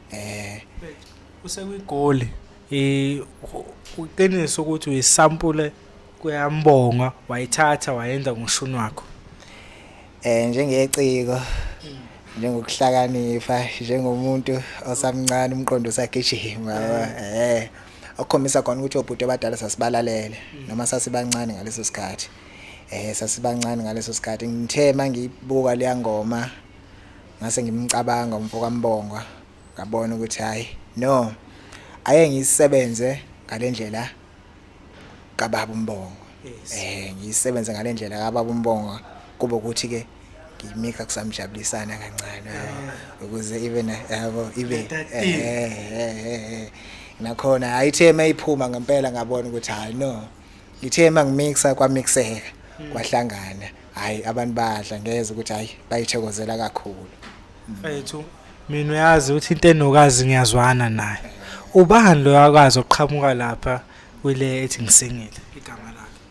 eh usekwigoli eh uqiniso ukuthi uyisampule kuyambonga wayithatha wayenza ngoshuni wakho eh njengeciko njengokuhlakanipha njengomuntu osamncane umqondo usagijima eh okukhombisa khona ukuthi obhuti abadala sasibalalele mm. noma sasibancane ngaleso sikhathi eh sasibancane ngaleso sikhathi ngithe mangiyibuka leyangoma Ngase ngimcabanga umfokaMbongwa ngabona ukuthi hayi no ake ngisebenze ngalendlela kababa uMbongwa. Eh ngisebenze ngalendlela kababa uMbongwa kube ukuthi ke ngimika kusamjabulisana kancane eh, ukuze ibe na yabo ibe eh, eh, nakhona ayithe mayiphuma ngempela ngabona ukuthi hayi no ngithe mangimixa kwamixeka hmm. kwahlangana hayi abantu badla ngeze ukuthi hayi bayithokozela kakhulu mfethu mina uyazi ukuthi into enokazi ngiyazwana naye ubani lo yakwazi oqhamuka lapha kwile ethi ngisingile igama lakhe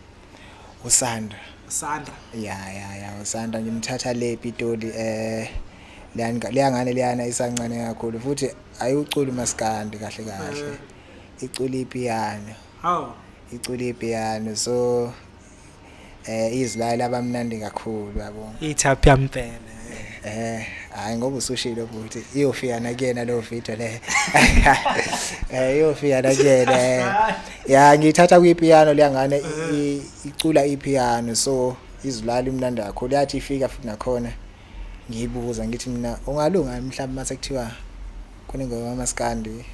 usandra Sandra. Ya ya ya uSandra ngimthatha le Pitoli eh leyangane leyana isancane kakhulu futhi ayiwuculi maskandi kahle kahle. Eh. Iculi ipiyano. Hawu. Iculi ipiyano so eh izilali abamnandi kakhulu yabo ithaphi yampela eh hayi ngoba usushilo ukuthi iyofika nakuyena lo video le eh iyofika nakuyena ya ngithatha kwi piano liyangane icula i piano so izilali imnandi kakhulu yathi ifika futhi nakhona ngiyibuza ngithi mina ungalunga mhlawumbe mase kuthiwa kunengoma yamaskandi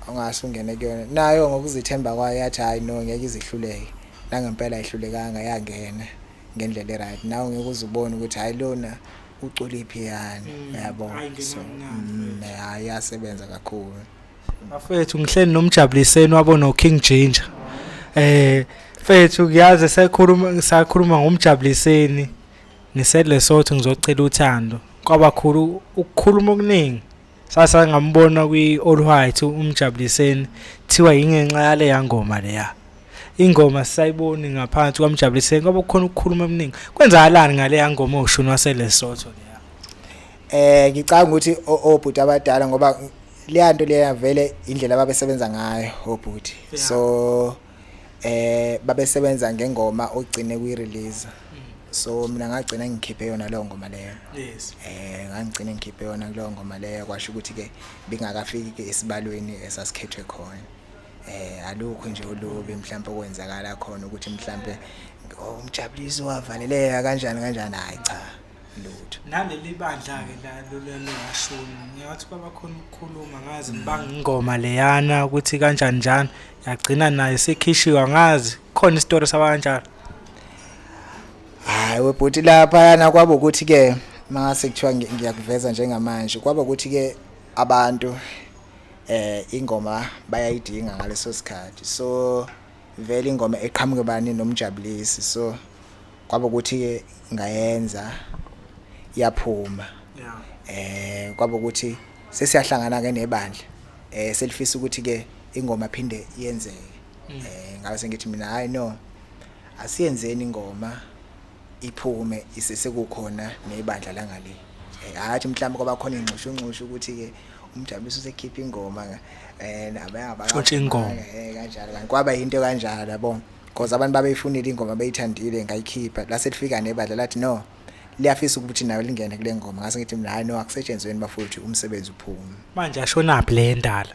ongase ungene kuyona nayo ngokuzithemba kwayo yathi hayi no ngeke izihluleke Nangempela ayihlulekanga yangena ngendlela eright nawe ngeke uze ubone ukuthi hayi lona uculiphi yani mm, yabo so mm, hayi yasebenza kakhulu bafethu ngihleli nomjabuliseni wabo no King Ginger eh fethu ngiyazi sekhuluma sakhuluma ngomjabuliseni ngiselesotho ngizocela uthando kwabakhulu ukukhuluma okuningi sasa ngambona kwi-all white umjabuliseni thiwa yingenxa yale yangoma leya ingoma sisayiboni ngaphansi kwamjabuliseni kwaba kukhona ukukhuluma eminingi kwenzakalani ngale yangoma oshuni waselesotho leya eh ngicanga ukuthi obhuti abadala ngoba leya nto leya vele indlela ababesebenza ngayo obhuti so eh babesebenza ngengoma ogcine kuyirelease so mina ngagcina ngikhiphe yona leyo ngoma leyo yes eh ngangigcina ngikhiphe yona kuleyo ngoma leyo kwasho ukuthi ke bingakafiki ke esibalweni esasikhethwe khona eh alukho nje ulubi mhlawumbe okwenzakala khona ukuthi mhlawumbe oh, umjabuliso wavaleleka kanjani kanjani hayi cha lutho naleli bandla ke la lolelo yashona ngiyathi baba khona ukukhuluma ngazi ngibanga ingoma leyana ukuthi kanjani njani yagcina naye sekhishiwa ngazi khona isitori saba kanjalo hayi webhuti lapha yana kwaba ukuthi ke mase kuthiwa ngiyakuveza njengamanje kwaba ukuthi ke abantu eh ingoma bayayidinga ngaleso sikhathi so Vele ingoma eqhamuke bani nomjabulisi so kwaba ukuthi ke ngayenza yaphuma. Yeah. Eh kwaba ukuthi sesiyahlangana ke nebandla. Eh selifisa ukuthi ke ingoma phinde yenzeke. Mm. Eh ngabe sengithi mina hayi no asiyenzeni ingoma iphume isesekukhona nebandla langale eh, hathi mhlawumbe kwaba khona ingxushunxushu ukuthi-ke umjabulisi usekhipha ingoma um eh, nabeabaxotsha ingoma eh, kanjalo kanti kwaba yinto kanjalo yabona because abantu babeyifunile ingoma beyithandile ngayikhipha lase lifika nebadla lathi no liyafisa ukuthi nayo lingene kule ngoma ngase ngithi mina hayi no akusetshenzweni bafowethu umsebenzi uphume manje ashonaphi le ndala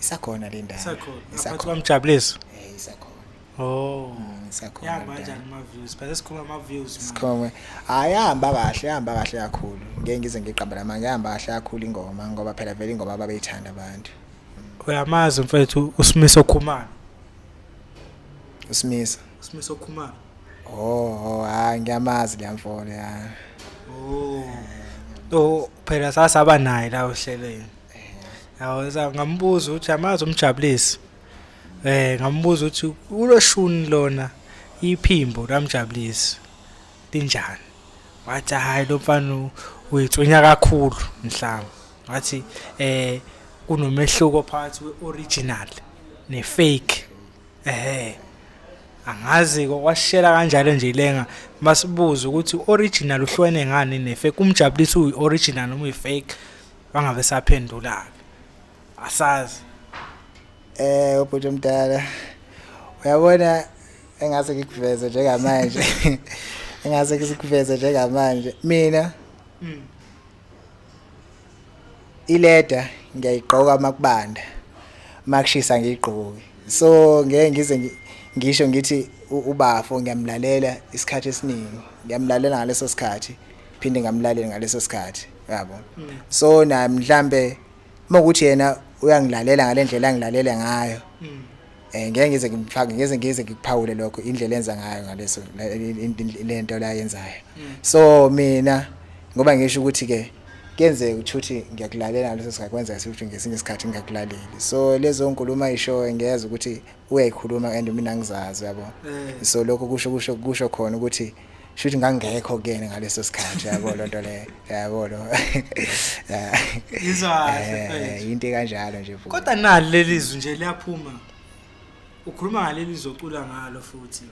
isakhona le ndala isakhona isakhona mjabuliso eh isakhona Oh. Mm, sakhona. Yahamba kanjani ama views? Phela sikhuluma ama views. Sikhuluma. Hayi yahamba kahle, yahamba kahle kakhulu. Ngeke ngize ngiqamba la manje yahamba kahle kakhulu ingoma ngoba phela vele ingoma ababeyithanda abantu. Uyamazi mfethu uSimiso Khumalo. Usimisa. Usimisa okhumalo. Oh, hayi ngiyamazi le mfolo ya. Oh. Oh, phela sasaba naye la ohlelweni. Yawo ngambuza ukuthi yamazi umjabulisi. Eh ngambuza ukuthi kuloshuni lona iphimbo lamjabulisi linjani? Wathi hayi lo mfana uyithonya kakhulu mhlawumbe. Wathi eh kunomehluko phakathi kwe-original ne-fake ehe angazi kwashela kanjalo nje lenga masibuza ukuthi original uhlwene ngani ne-fake umjabulisi uyi-original noma uyi-fake bangabe saphendula-ke asazi eh ubhuti omdala uyabona engase ngikuveze njengamanje engase ngikuveze njengamanje mina mm. ileda ngiyayigqoka makubanda makushisa ngiyigqoki so ngeke ngize ngisho ngithi ubafo ngiyamlalela isikhathi esiningi ngiyamlalela ngaleso sikhathi phinde ngamlaleli ngaleso sikhathi yabo mm. so na mhlambe uma ukuthi yena uyangilalela ngale ndlela angilalele ngayo um ngeke ngize ngimfake ngeze ngize ngikuphawule lokho indlela enza ngayo ngaleso le nto la yenzayo mm. so mina ngoba ngisho ukuthi-ke kuyenzeka ukuthi uthi ngiyakulalela ngaleso sikhathi kwenzeka ukuthi ngesinye isikhathi ngingakulaleli so lezo nkulumo ayishoyo ngiyeza ukuthi uyayikhuluma and mina ngizazi yabo eh. so lokho kusho kusho kusho khona ukuthi shuthi ngangekho kuyena ngaleso sikhathi yabo lonto le yabo lo izwa eh, into kanjalo nje futhi kodwa nali lelizwi nje liyaphuma ukhuluma ngaleli zocula ngalo futhi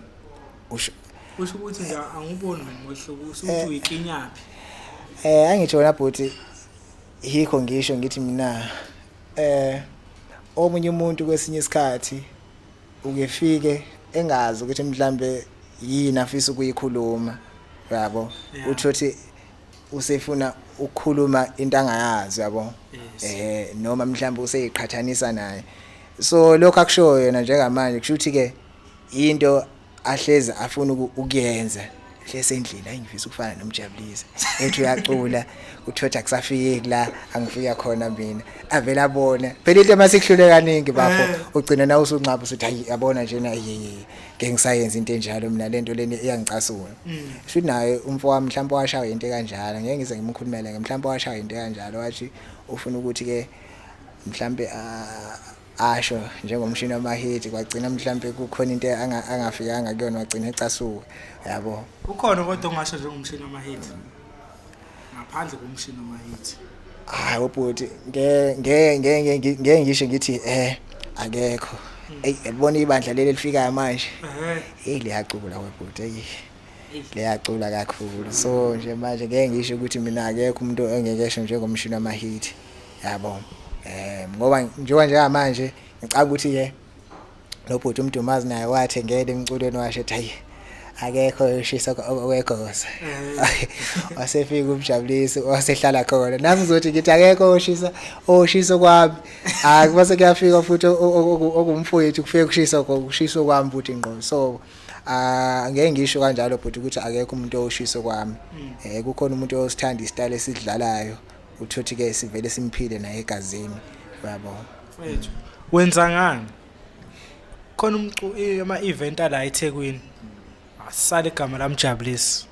usho usho ukuthi nje anguboni ngomehluko usuthi eh. uyikinyaphi eh angitsho wena bhuti yikho ngisho ngithi mina eh omunye umuntu kwesinye isikhathi ukefike engazi ukuthi mhlambe yini afisa ukuyikhuluma yabo utho ukuthi usefuna ukukhuluma into angayazi yabo eh noma mhlawumbe useyiqhathanisa naye so lokho akushoyo yena njengamanje kusho ukuthi ke into ahlezi afuna ukuyenza hlesendlini ayingifisa ukufana nomjabulisi ethi uyacula kuthiwa ukuthi akusafiki la angifika khona mina avele abona phela into uma sikuhlule kaningi bafo eh. ugcina na usunqaba usuthi hayi yabona nje na yeye ngeke ngisayenza into enjalo mina lento leni iyangicasula mm. futhi naye umfo wami mhlawumbe washawa into kanjalo ngeke ngize ngimkhulumele ngemhlawumbe washawa into kanjalo wathi ufuna ukuthi ke mhlawumbe ah, asho njengomshini wamahiti kwagcina mhlampe kukhona into angafikanga kuyona wagcina ecasuka yabo ukhona kodwa ongasho njengomshini wamahiti ngaphandle komshini wamahiti hayi ubhuti ngeke ngeke ngeke ngisho ngithi eh akekho eyi yabona ibandla leli elifikayo manje eyi liyacula webhuti eyi liyacula kakhulu so nje manje ngeke ngisho ukuthi mina akekho umuntu engekesho njengomshini wamahithi yabo eh ngoba njengoba njengamanje ngicabanga ukuthi ke lo bhuti umdumazi naye wathengele emculweni washe ethi hayi akekho ushisa okwegosa mm. wasefika umjabulisi wasehlala khona nami ngizothi ngithi akekho oshisa oshisa kwami akuba sekuyafika futhi okumfowethu kufike kushisa kushisa kwami futhi ngqo so ah, angeke ngisho kanjalo bhuti ukuthi akekho umuntu oshisa kwami mm. eh kukhona umuntu osithanda isitayile esidlalayo uthothi ke sivele simphile naye egazini yabo mfethu wenza ngani khona umcu ama event ala eThekwini asale igama lamjabulisi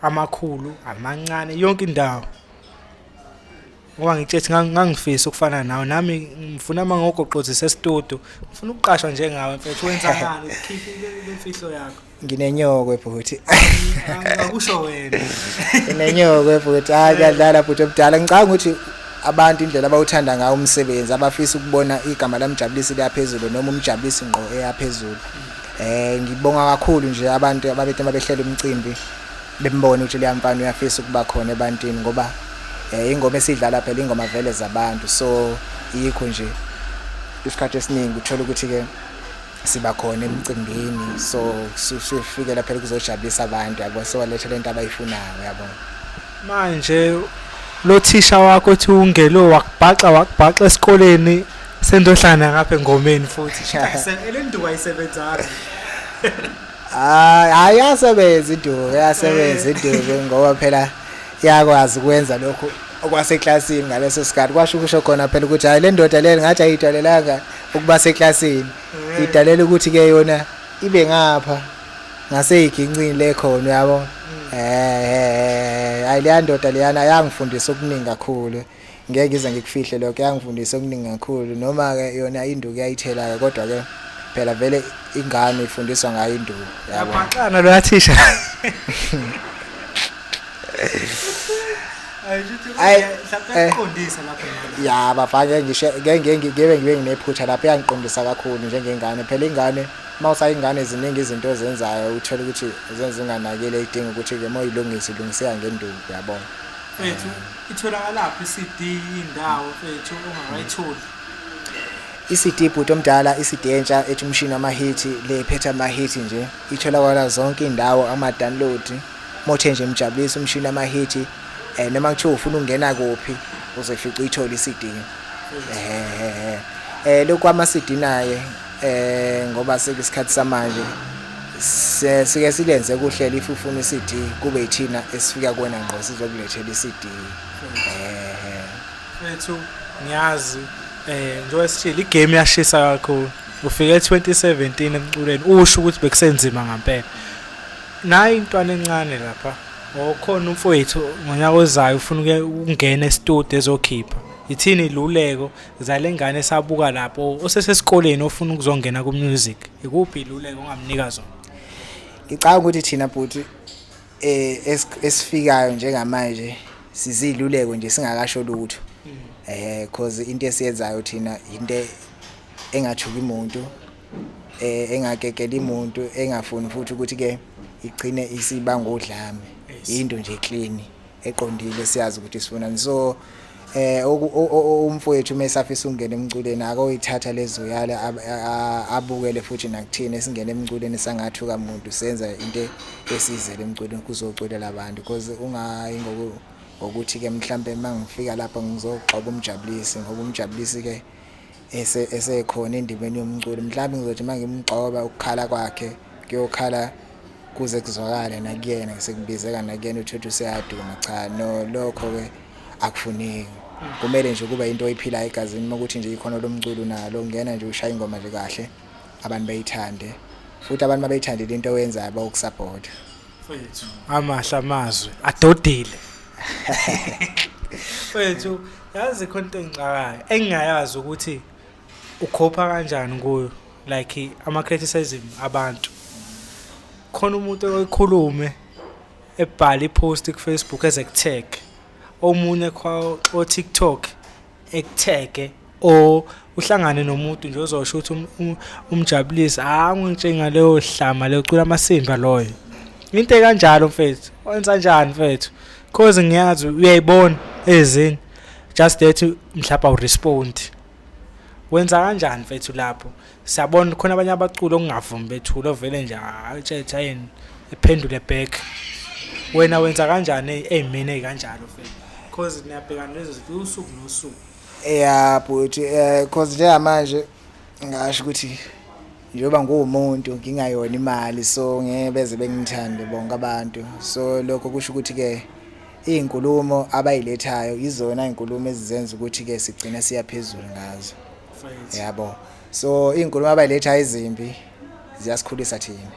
amakhulu amancane yonke indawo ngoba ngitshethi ngangifisa ukufana nawe nami ngifuna uma ngogoqozisa esitudio ngifuna ukuqashwa njengawe mfethu wenza ngani ukhiphe imfihlo yakho nginenyokwe bhuti angakusho wena nginenyokwe bhuti hayi kuyadlala bhuti omdala ngicabanga ukuthi abantu indlela abawuthanda ngawo umsebenzi abafisa ukubona igama lamjabulisi liyaphezulu noma umjabulisi ngqo eyaphezulu eh ngibonga kakhulu nje abantu ababethe babehlela umcimbi bembona ukuthi leyamfana uyafisa ukuba khona ebantwini ngoba eh ingoma esidlala phela ingoma vele zabantu so yikho nje isikhathi esiningi uthola ukuthi ke siba khona emcimbini so sifikela phela kuzojabulisa abantu yabo siwalethe lento abayifunayo yabo manje lo thisha wakho othi ungelo wakubhaxa wakubhaxa esikoleni sendohlana ngapha engomeni futhi elenduku ayisebenzanga hayi ayasebenza iduku ayasebenza eh. iduku ngoba phela yakwazi ukwenza lokhu okwaseklasini ngaleso sikhathi kwasho ukusho khona phela ukuthi hayi le ndoda le ngathi ayidalelanga ukuba seklasini mm. idalela ukuthi ke yona ibe ngapha ngaseyigincini lekhona yabo mm. eh ayilandoda leyana yangifundisa okuningi kakhulu ngeke ize ngikufihle lokho yangifundisa okuningi kakhulu noma ke yona induku yayithela ke kodwa ke phela vele ingane ifundiswa ngayo induku yabo yabhaxana lo thisha ya bafake ngisho ngeke ngibe nginephutha lapho yangiqondisa kakhulu njengengane phela ingane uma usayingane ziningi izinto ezenzayo uthole ukuthi zenzinganakile idinga ukuthi ke moyilungise ilungiseka ngenduku uyabona mfethu itholakalaphi i-CD indawo mfethu ongakayitholi i-CD bhuti omdala i-CD entsha ethi umshini wamahithi le phetha amahithi nje itholakala zonke indawo ama-download Mothe nje mjabulisa umshini amahithi eh noma kuthiwa ufuna ukungena kuphi uzofica uyithola iCD eh eh lokho ama CD naye eh ngoba sekusikhathi samanje sike silenze kuhlela if ufuna iCD kube yithina esifika kuwena ngqo sizokulethela iCD eh mfethu ngiyazi eh njengoba sithile igame yashisa kakhulu ufike 2017 emculweni usho ukuthi bekusenzima ngempela Nayi intwana encane lapha. Oh khona umfowethu ngonyaka ozayo ufuna uke ukungena estudio ezokhipha. Ithini iluleko zale ngane esabuka lapho osesesikoleni ofuna ukuzongena ku music. Ikuphi iluleko ongamnika zona? Ngicabanga ukuthi thina bhuti eh es- esifikayo njengamanje siziluleko nje singakasho lutho. Eh cause into esiyenzayo thina into engathuki umuntu eh, engagegela imuntu engafuni futhi ukuthi ke igcine isiba ngodlame into nje clean eqondile siyazi ukuthi sifunani so eh umfowethu mesafisa ungena emculweni akoyithatha lezo yale abukele futhi nakuthina esingena emculweni sangathuka umuntu senza into esizele emculweni kuzoculela abantu because ungayi ngoku ngokuthi ke mhlambe mangifika lapha ngizogxoba umjabulisi ngoba umjabulisi ke esekhona endimeni yomculo mhlawumbe ngizothi uma ngimgcoba ukukhala kwakhe kuyokhala kuze kuzwakale nakuyena sekubizeka nakuyena uthuthi useyaduma cha no lokho-ke akufuneki kumele nje kuba into oyiphilayo egazini uma ukuthi nje ikhono lomculo nalo ngena nje ushaya ingoma nje kahle abantu bayithande futhi abantu mabayithandile into oyenzayo bawukusapota amahle amazwi adodile fethu yazi khona into engixakayo engingayazi ukuthi ukhopha kanjani kuyo like ama criticism abantu khona umuntu oyikhulume ebhala ipost ku Facebook as ekutag omunye kwa o TikTok ekutag o uhlangane nomuntu nje ozosho ukuthi um, um, umjabulisi ha ah, ngitshenga leyo hlama leyo cula amasimba loyo into ekanjalo mfethu wenza kanjani mfethu cause ngiyazi uyayibona ezini just that mhlawumbe awurespond wenza kanjani mfethu lapho siyabona khona abanye abaculi okungavumi bethule ovele nje atshetha yini ephendule back wena wenza kanjani eyimini eyikanjalo mfethu cause niyabhekana lezo zinto usuku nosuku yeah bhuti um cause njengamanje ngasho ukuthi njengoba nguwumuntu ngingayona imali so ngeke beze bengithande bonke abantu so lokho kusho ukuthi-ke iy'nkulumo abayilethayo yizona iy'nkulumo ezizenza ukuthi-ke sigcine siya phezulu ngazo yabo so iy'nkulumo abayilethayo ezimbi ziyasikhulisa thina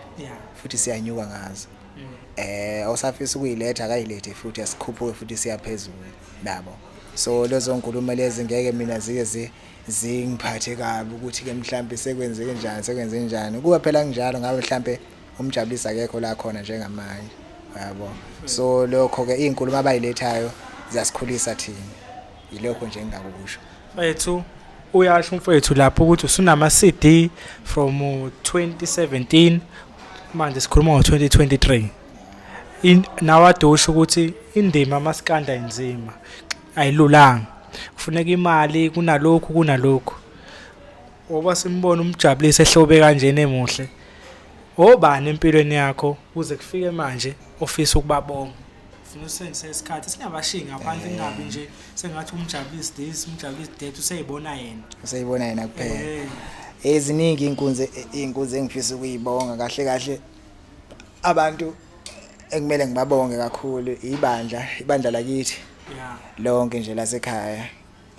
futhi siyanyuka ngazo eh osafisa ukuyiletha akayilethe futhi asikhuphuke futhi siyaphezulu nabo so lezo nkulumo lezi ngeke mina zike zi zingiphathe kabi ukuthi ke mhlambe sekwenzeke njani sekwenze njani kuba phela kunjalo ngabe mhlambe umjabulisa akekho la khona njengamanje yabo so lokho ke izinkulumo abayilethayo ziyasikhulisa thina yilokho nje engakusho mfethu uyasho mfethu lapho ukuthi usunama CD from 2017 uh, manje sikhuluma ngo 2023 in nawadusha ukuthi indima masikanda inzima ayilulanga kufuneka imali kunalokhu kunalokhu oba simbona umjabulise ehlobe kanjena emuhle obani empilweni yakho kuze kufike manje ofisa ukubabonga funa usenzise isikhathi singabashiyi ngaphandle kungabi nje sengathi umjabulisi this umjabulisi that useyibona yena useyibona yena kuphela eh. eziningi inkunzi inkunzi engifisa ukuyibonga kahle kahle abantu ekumele ngibabonge kakhulu ibandla ibandla lakithi lonke nje lasekhaya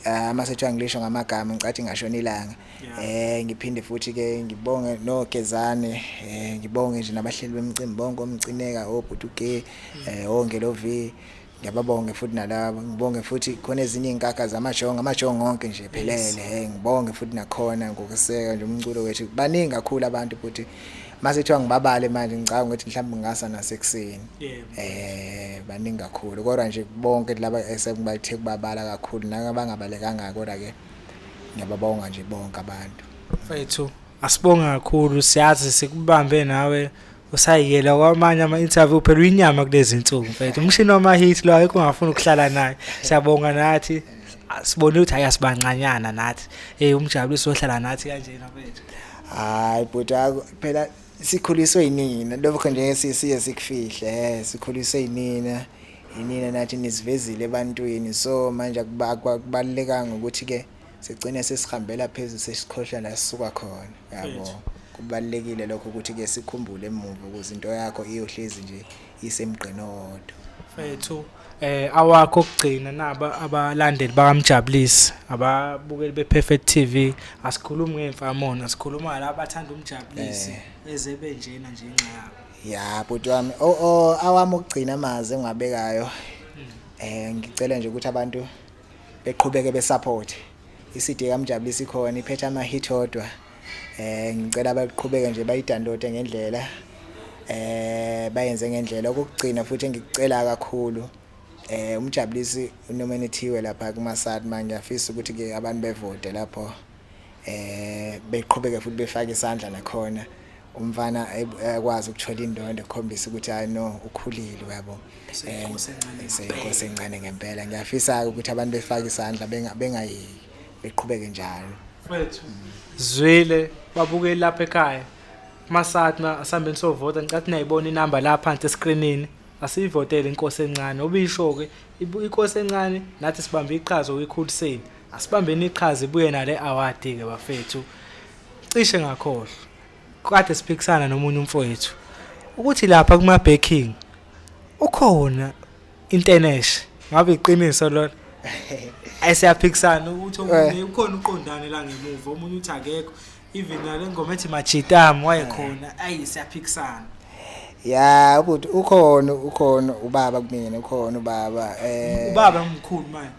ah, uma setshiwa ngilisho ngamagama ngicathi ngashona ilanga um ngiphinde futhi-ke ngibonge nogezane um ngibonge nje nabahleli bemcimbi bonke omcineka obhutuge um ongelovi Ngiyababonge futhi nalabo ngibonge futhi khona ezinye izinkakha zamashongo amashongo onke nje phelele hey ngibonge futhi nakhona ngokuseka nje umculo wethu baningi kakhulu abantu futhi mase kuthiwa ngibabale manje ngicabanga ukuthi mhlawumbe ngingasa nasekuseni eh baningi kakhulu kodwa nje bonke laba esengibathe kubabala kakhulu nakabangabalekanga kodwa ke ngiyababonga nje bonke abantu mfethu Asibonge kakhulu siyazi sikubambe nawe usayiyela kwamanye ama-interview phela uyinyama kulezi nsuku mfethu umshini wama-hit lo ayikho ungafuni ukuhlala naye siyabonga nathi sibone ukuthi hayi asibancanyana nathi um umjabuliso ohlala nathi kanjena mfethu hayi bhuti phela sikhuliswe yinina lokho nje siye sikufihle um sikhuliswe yinina yinina nathi nisivezile ebantwini so manje akubalulekanga ukuthi-ke sigcine sesihambela phezulu sesikhohlwa la sisuka khona yabo kubalekile lokho ukuthi ke sikhumbule emuva ukuze into yakho iyohlezi nje isemgqini owodwa fethu eh awakho kugcina naba abalandeli bakamjabulisi ababukeli bePerfect TV asikhulumi ngemfamona sikhuluma laba abathanda umjabulisi eh. ezebe njena nje inxa yabo ya bhuti wami o oh, oh, awami ukugcina amazi engwabekayo hmm. eh ngicela nje ukuthi abantu beqhubeke besupport iCD kaMjabulisi khona iphethe ama hit odwa eh ngicela baqhubeke nje bayidownloade ngendlela eh bayenze ngendlela okugcina futhi engikucela kakhulu eh umjabulisi unomenithiwe lapha kumasad manje ngiyafisa ukuthi ke abantu bevote lapho eh beqhubeke futhi befake isandla nakhona umfana ekwazi ukuthola indondo ekhombisa ukuthi hayi no ukhulile uyabo seyinkosi encane ngempela ngiyafisa-ke ukuthi abantu befake isandla bengayeki beqhubeke njalo mfethu zwile babukeli lapha ekhaya masatna asambeni sovota ngicathi niyayibona inamba la phansi eskrinini asiyivotele inkosi encane obisho-ke inkosi encane nathi sibambe iqhaza wikhuliseni Asibambeni iqhaza ibuye nale award ke bafethu. Cishe ngakhohlwa. Kade siphikisana nomunye umfowethu ukuthi lapha kuma baking ukhona intenesh ngabe iqiniso lona ayisiyaphikisana ukuthi omunye eh. ukhona uqondane la ngemuva omunye uthi akekho even nale ngoma ethi machitam wayekhona ayi siyaphikisana ya ukuthi ukhona ukhona ubaba kumina ukhona ubaba eh ubaba omkhulu manje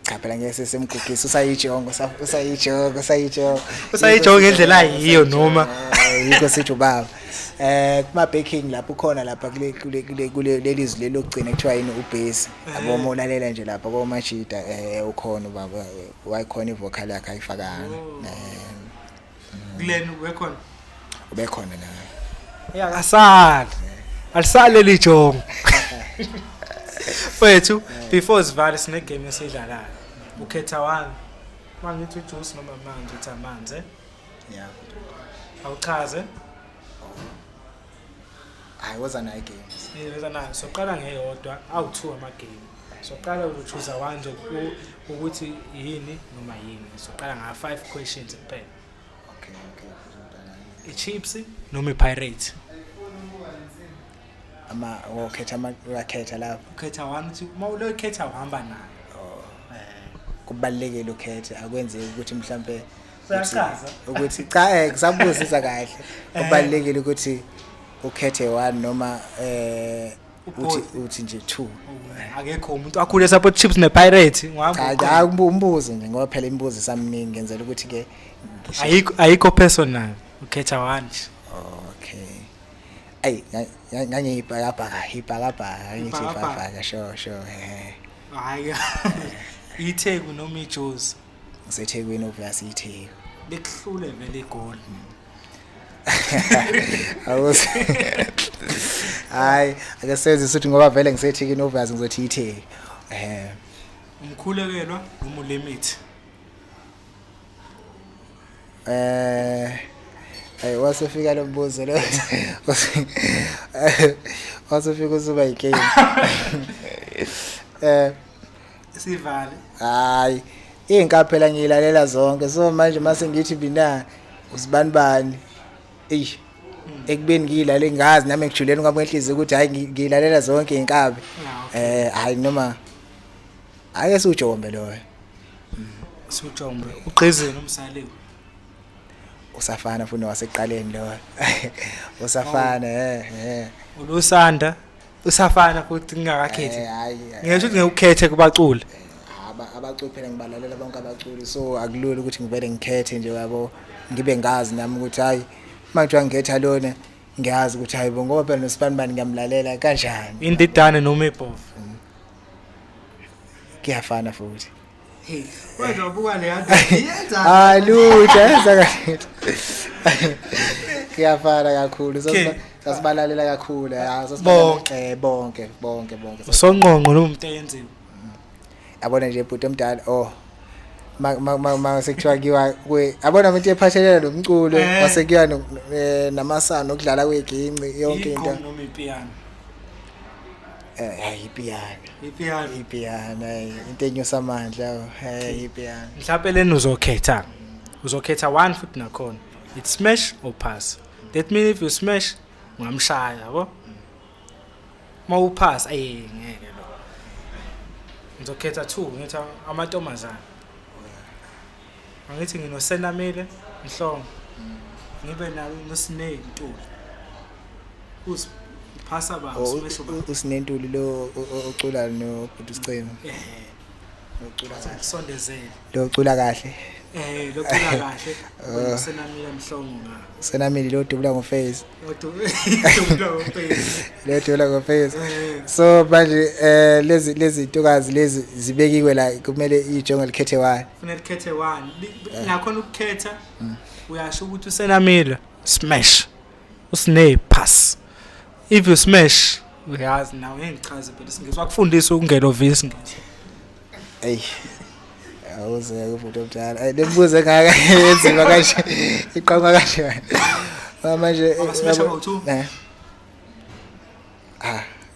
cha phela ngeke sesemgugisa usayijongo usayijongo usayijongo usayijongo ngendlela yiyo noma yikho sithi ubaba eh kuma baking lapho ukhona lapha kule kule kule kule lelizwi lelokugcina kuthiwa yini ubase yabo eh. molalela nje lapha komashida eh ukhona baba wayikhona ivocal yakhe ayifakanga kulena ubekhona ubekhona naye asali alisali leli jongo mfethu before sivale sine game esidlalayo ukhetha wani mangithi ujuice noma manje uthi amanzi eh? yeah awuchaze hayi woza nayo igame siyoza nayo soqala ngeyodwa awu-two amagame soqala uchuza wanje ukuthi yini noma yini soqala ngama-five questions kuphela okay okay i-chips noma i-pirate ama wokhetha ama uyakhetha lapho ukhetha one two uma ulokhetha uhamba nayo oh. eh kubalekile ukhethe akwenzeki ukuthi mhlambe uyachaza ukuthi cha eh kusabuzisa kahle eh. ubalekile ukuthi ukhethe one noma eh uthi uthi nje two oh, akekho umuntu akhule support chips ne pirate ngihamba cha hayi umbuzo nje ngoba phela imibuzo isamningi ngenzela ukuthi ke ayikho ayikho personal ukhetha one okay ay ngangiyibhakabhaka ibhakabhaka ngithi ibhakabhaka sho sho eh hayi itheku noma ijozi usethekwini obviously itheku likuhlule vele igoli awuze hayi ake senze ukuthi ngoba vele ngisethekini obviously ngizothi itheku eh umkhulekelwa noma ulimit eh Hey wasefika lo mbuzo lo. Wasefika usuba yicane. Eh sivale hayi inka phela ngiyilalela zonke so manje mase ngithi mina usibani bani eish ekubeni ngiyilale ngazi nami ngijuleni kwami enhliziyo ukuthi hayi ngi- ngiyilalela zonke inkabi Ah, eh hayi noma ake siwujombe loyo sujombe ugqizile umsaliwe usafana futhi wasekuqaleni loyo usafana eh eh ulusanda usafana futhi ngingakakhethi Eh, hhayi, eh, ngisho ukuthi ngekukhethe kubaculi aba- abaculi phela ngibalalela bonke abaculi so akulula ukuthi ngivele ngikhethe nje yabo ngibe ngazi nami ukuthi hhayi uma kuthiwa ngikhetha lona ngiyazi ukuthi hhayi bo ngoba phela nosibanibani ngiyamlalela kanjani indidane noma ibhovu kuyafana futhi Kodwa ubuka le yanda yenza. Hayi lutho yenza kahle. Kuyafana kakhulu. Okay. Sasibalalela kakhulu. Hayi sasibonke eh, bonke bonke bonke. Usonqonqo lo muntu eyenziwe. Yabona nje bhuti omdala oh masekuthiwa kiwa kwe abona umuntu ephathelele lo mculo eh. wasekuya eh, namasana okudlala kweginci yonke into Eh, hayi ipiyana. Ipiyana. Ipiyana eh, into enyusa amandla. oh, Hayi ipiyana. mhlawumpe leni uzokhetha uzokhetha one futhi nakhona it smash or pass that mean if you smash ungamshaya yabo uma upass ayi ngeke lo ngizokhetha two ngitha amantombazane Angithi nginosenamile Mhlongo. Ngibe nawe noSinei Ntuli. Us phasa ba oh, usumesho ba. Usinentuli lo ocula no Bhuti Sicema. Eh. Ocula kahle. Sondezele. Lo ocula kahle. Eh lo cula kahle. Oh. Usenamile Mhlongo nga. Usenamile lo dubula ngo face. Lo dubula ngo face. Lo dubula ngo face. Eh. So manje eh lezi lezi ntokazi lezi zibekiwe la kumele ijongo likhethe wani. kufanele ukhethe one eh. nakhona ukukhetha mm. uyasho ukuthi usenamila smash usine pass if you smash uyazi nawe engichaze phela isingisi wakufundisa ukungena ovisi ngithi eyi awuzeke umuntu omdala ayi nembuzo engaka yenziwa kanje iqhamuka kanje manje eh, eh. ah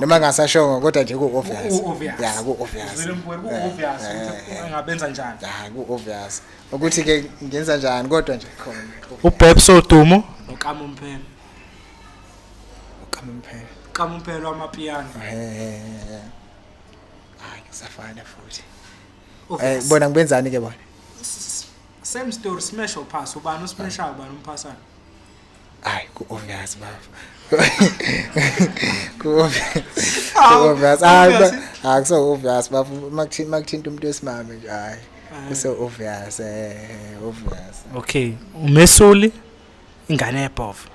noma ngasashongo kodwa nje ku-obvious ya ku-obvious ngabenza njani ya ku-obvious ukuthi-ke ngenza njani kodwa nje khona ubebs odumo noqama umphelo uqama umphelo uqama umphelo wamapiyano hayi kusafana futhi eh, bona ngibenzani-ke bona same story smash or pass ubani usmashayo ubani umphasayo Ay ku obvious bafo. Ku obvious. Ku obvious. Ay ba akuso obvious bafo makuthinta makuthinta umuntu wesimame nje ay. Kuso obvious eh obvious. Okay, umesuli ingane yebhovu.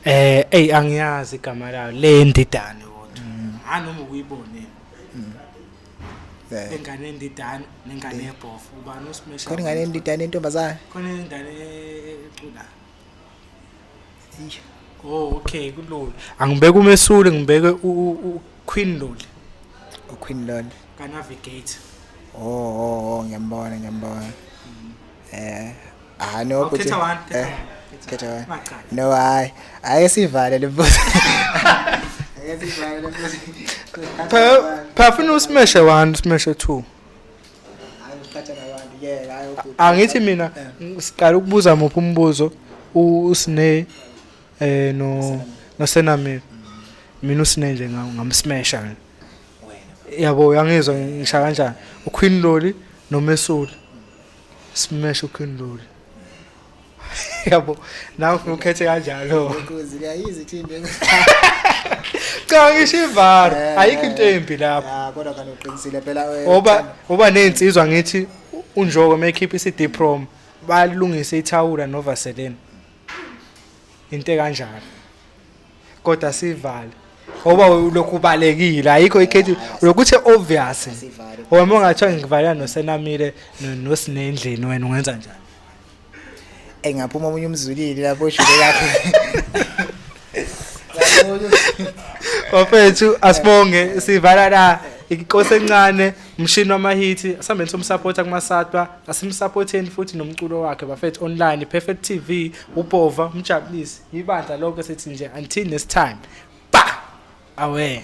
Eh, ey angiyazi igama layo le ndidane kodwa. Hanoma ukuyibone. Eh. ingane endidana nengane yebhofu eh. ubani usimesha khona ingane endidana entombazane khona ingane ecula oh okay kulula angibeke umesule ngibeke uqueen loli uqueen loli kanavigator oh, oh, oh ngiyambona ngiyambona eh ah no oh, khetha one eh, khetha one no hayi ake sivale lebuzo ake sivale lebuzo pha pha funa usimeshe one usimeshe two angithi mina siqala ukubuza muphi umbuzo usine eh no nosenamile mina usine nje ngamsmesha mina yabo uyangizwa ngisha kanjani uQueen Loli nomesuli smash uQueen Loli yabo nawe ufuna ukhethe kanjalo ukuze kuyayizi thimbe cha ngisho ivara eh, ayikho into embi lapho ah kodwa kana uqinisile phela eh, oba oba nezinsizwa ngithi unjoko mekhipha iCD prom balungise ithawula novaseline into kanjalo kodwa sivale ngoba ulokhu ubalekile ayikho ikhethi lokuthi obvious wena ungathiwa ngivalela nosenamile nosinendlini wena ungenza njani engaphuma omunye umzulile lapho shule yakho Bafethu asibonge sivala la inkosi encane umshini wamahithi asambeni somsupporter kumasatwa asimsupporteni futhi nomculo wakhe bafethu online perfect tv ubhova umjabulisi ibandla lonke sethi nje until next time ba away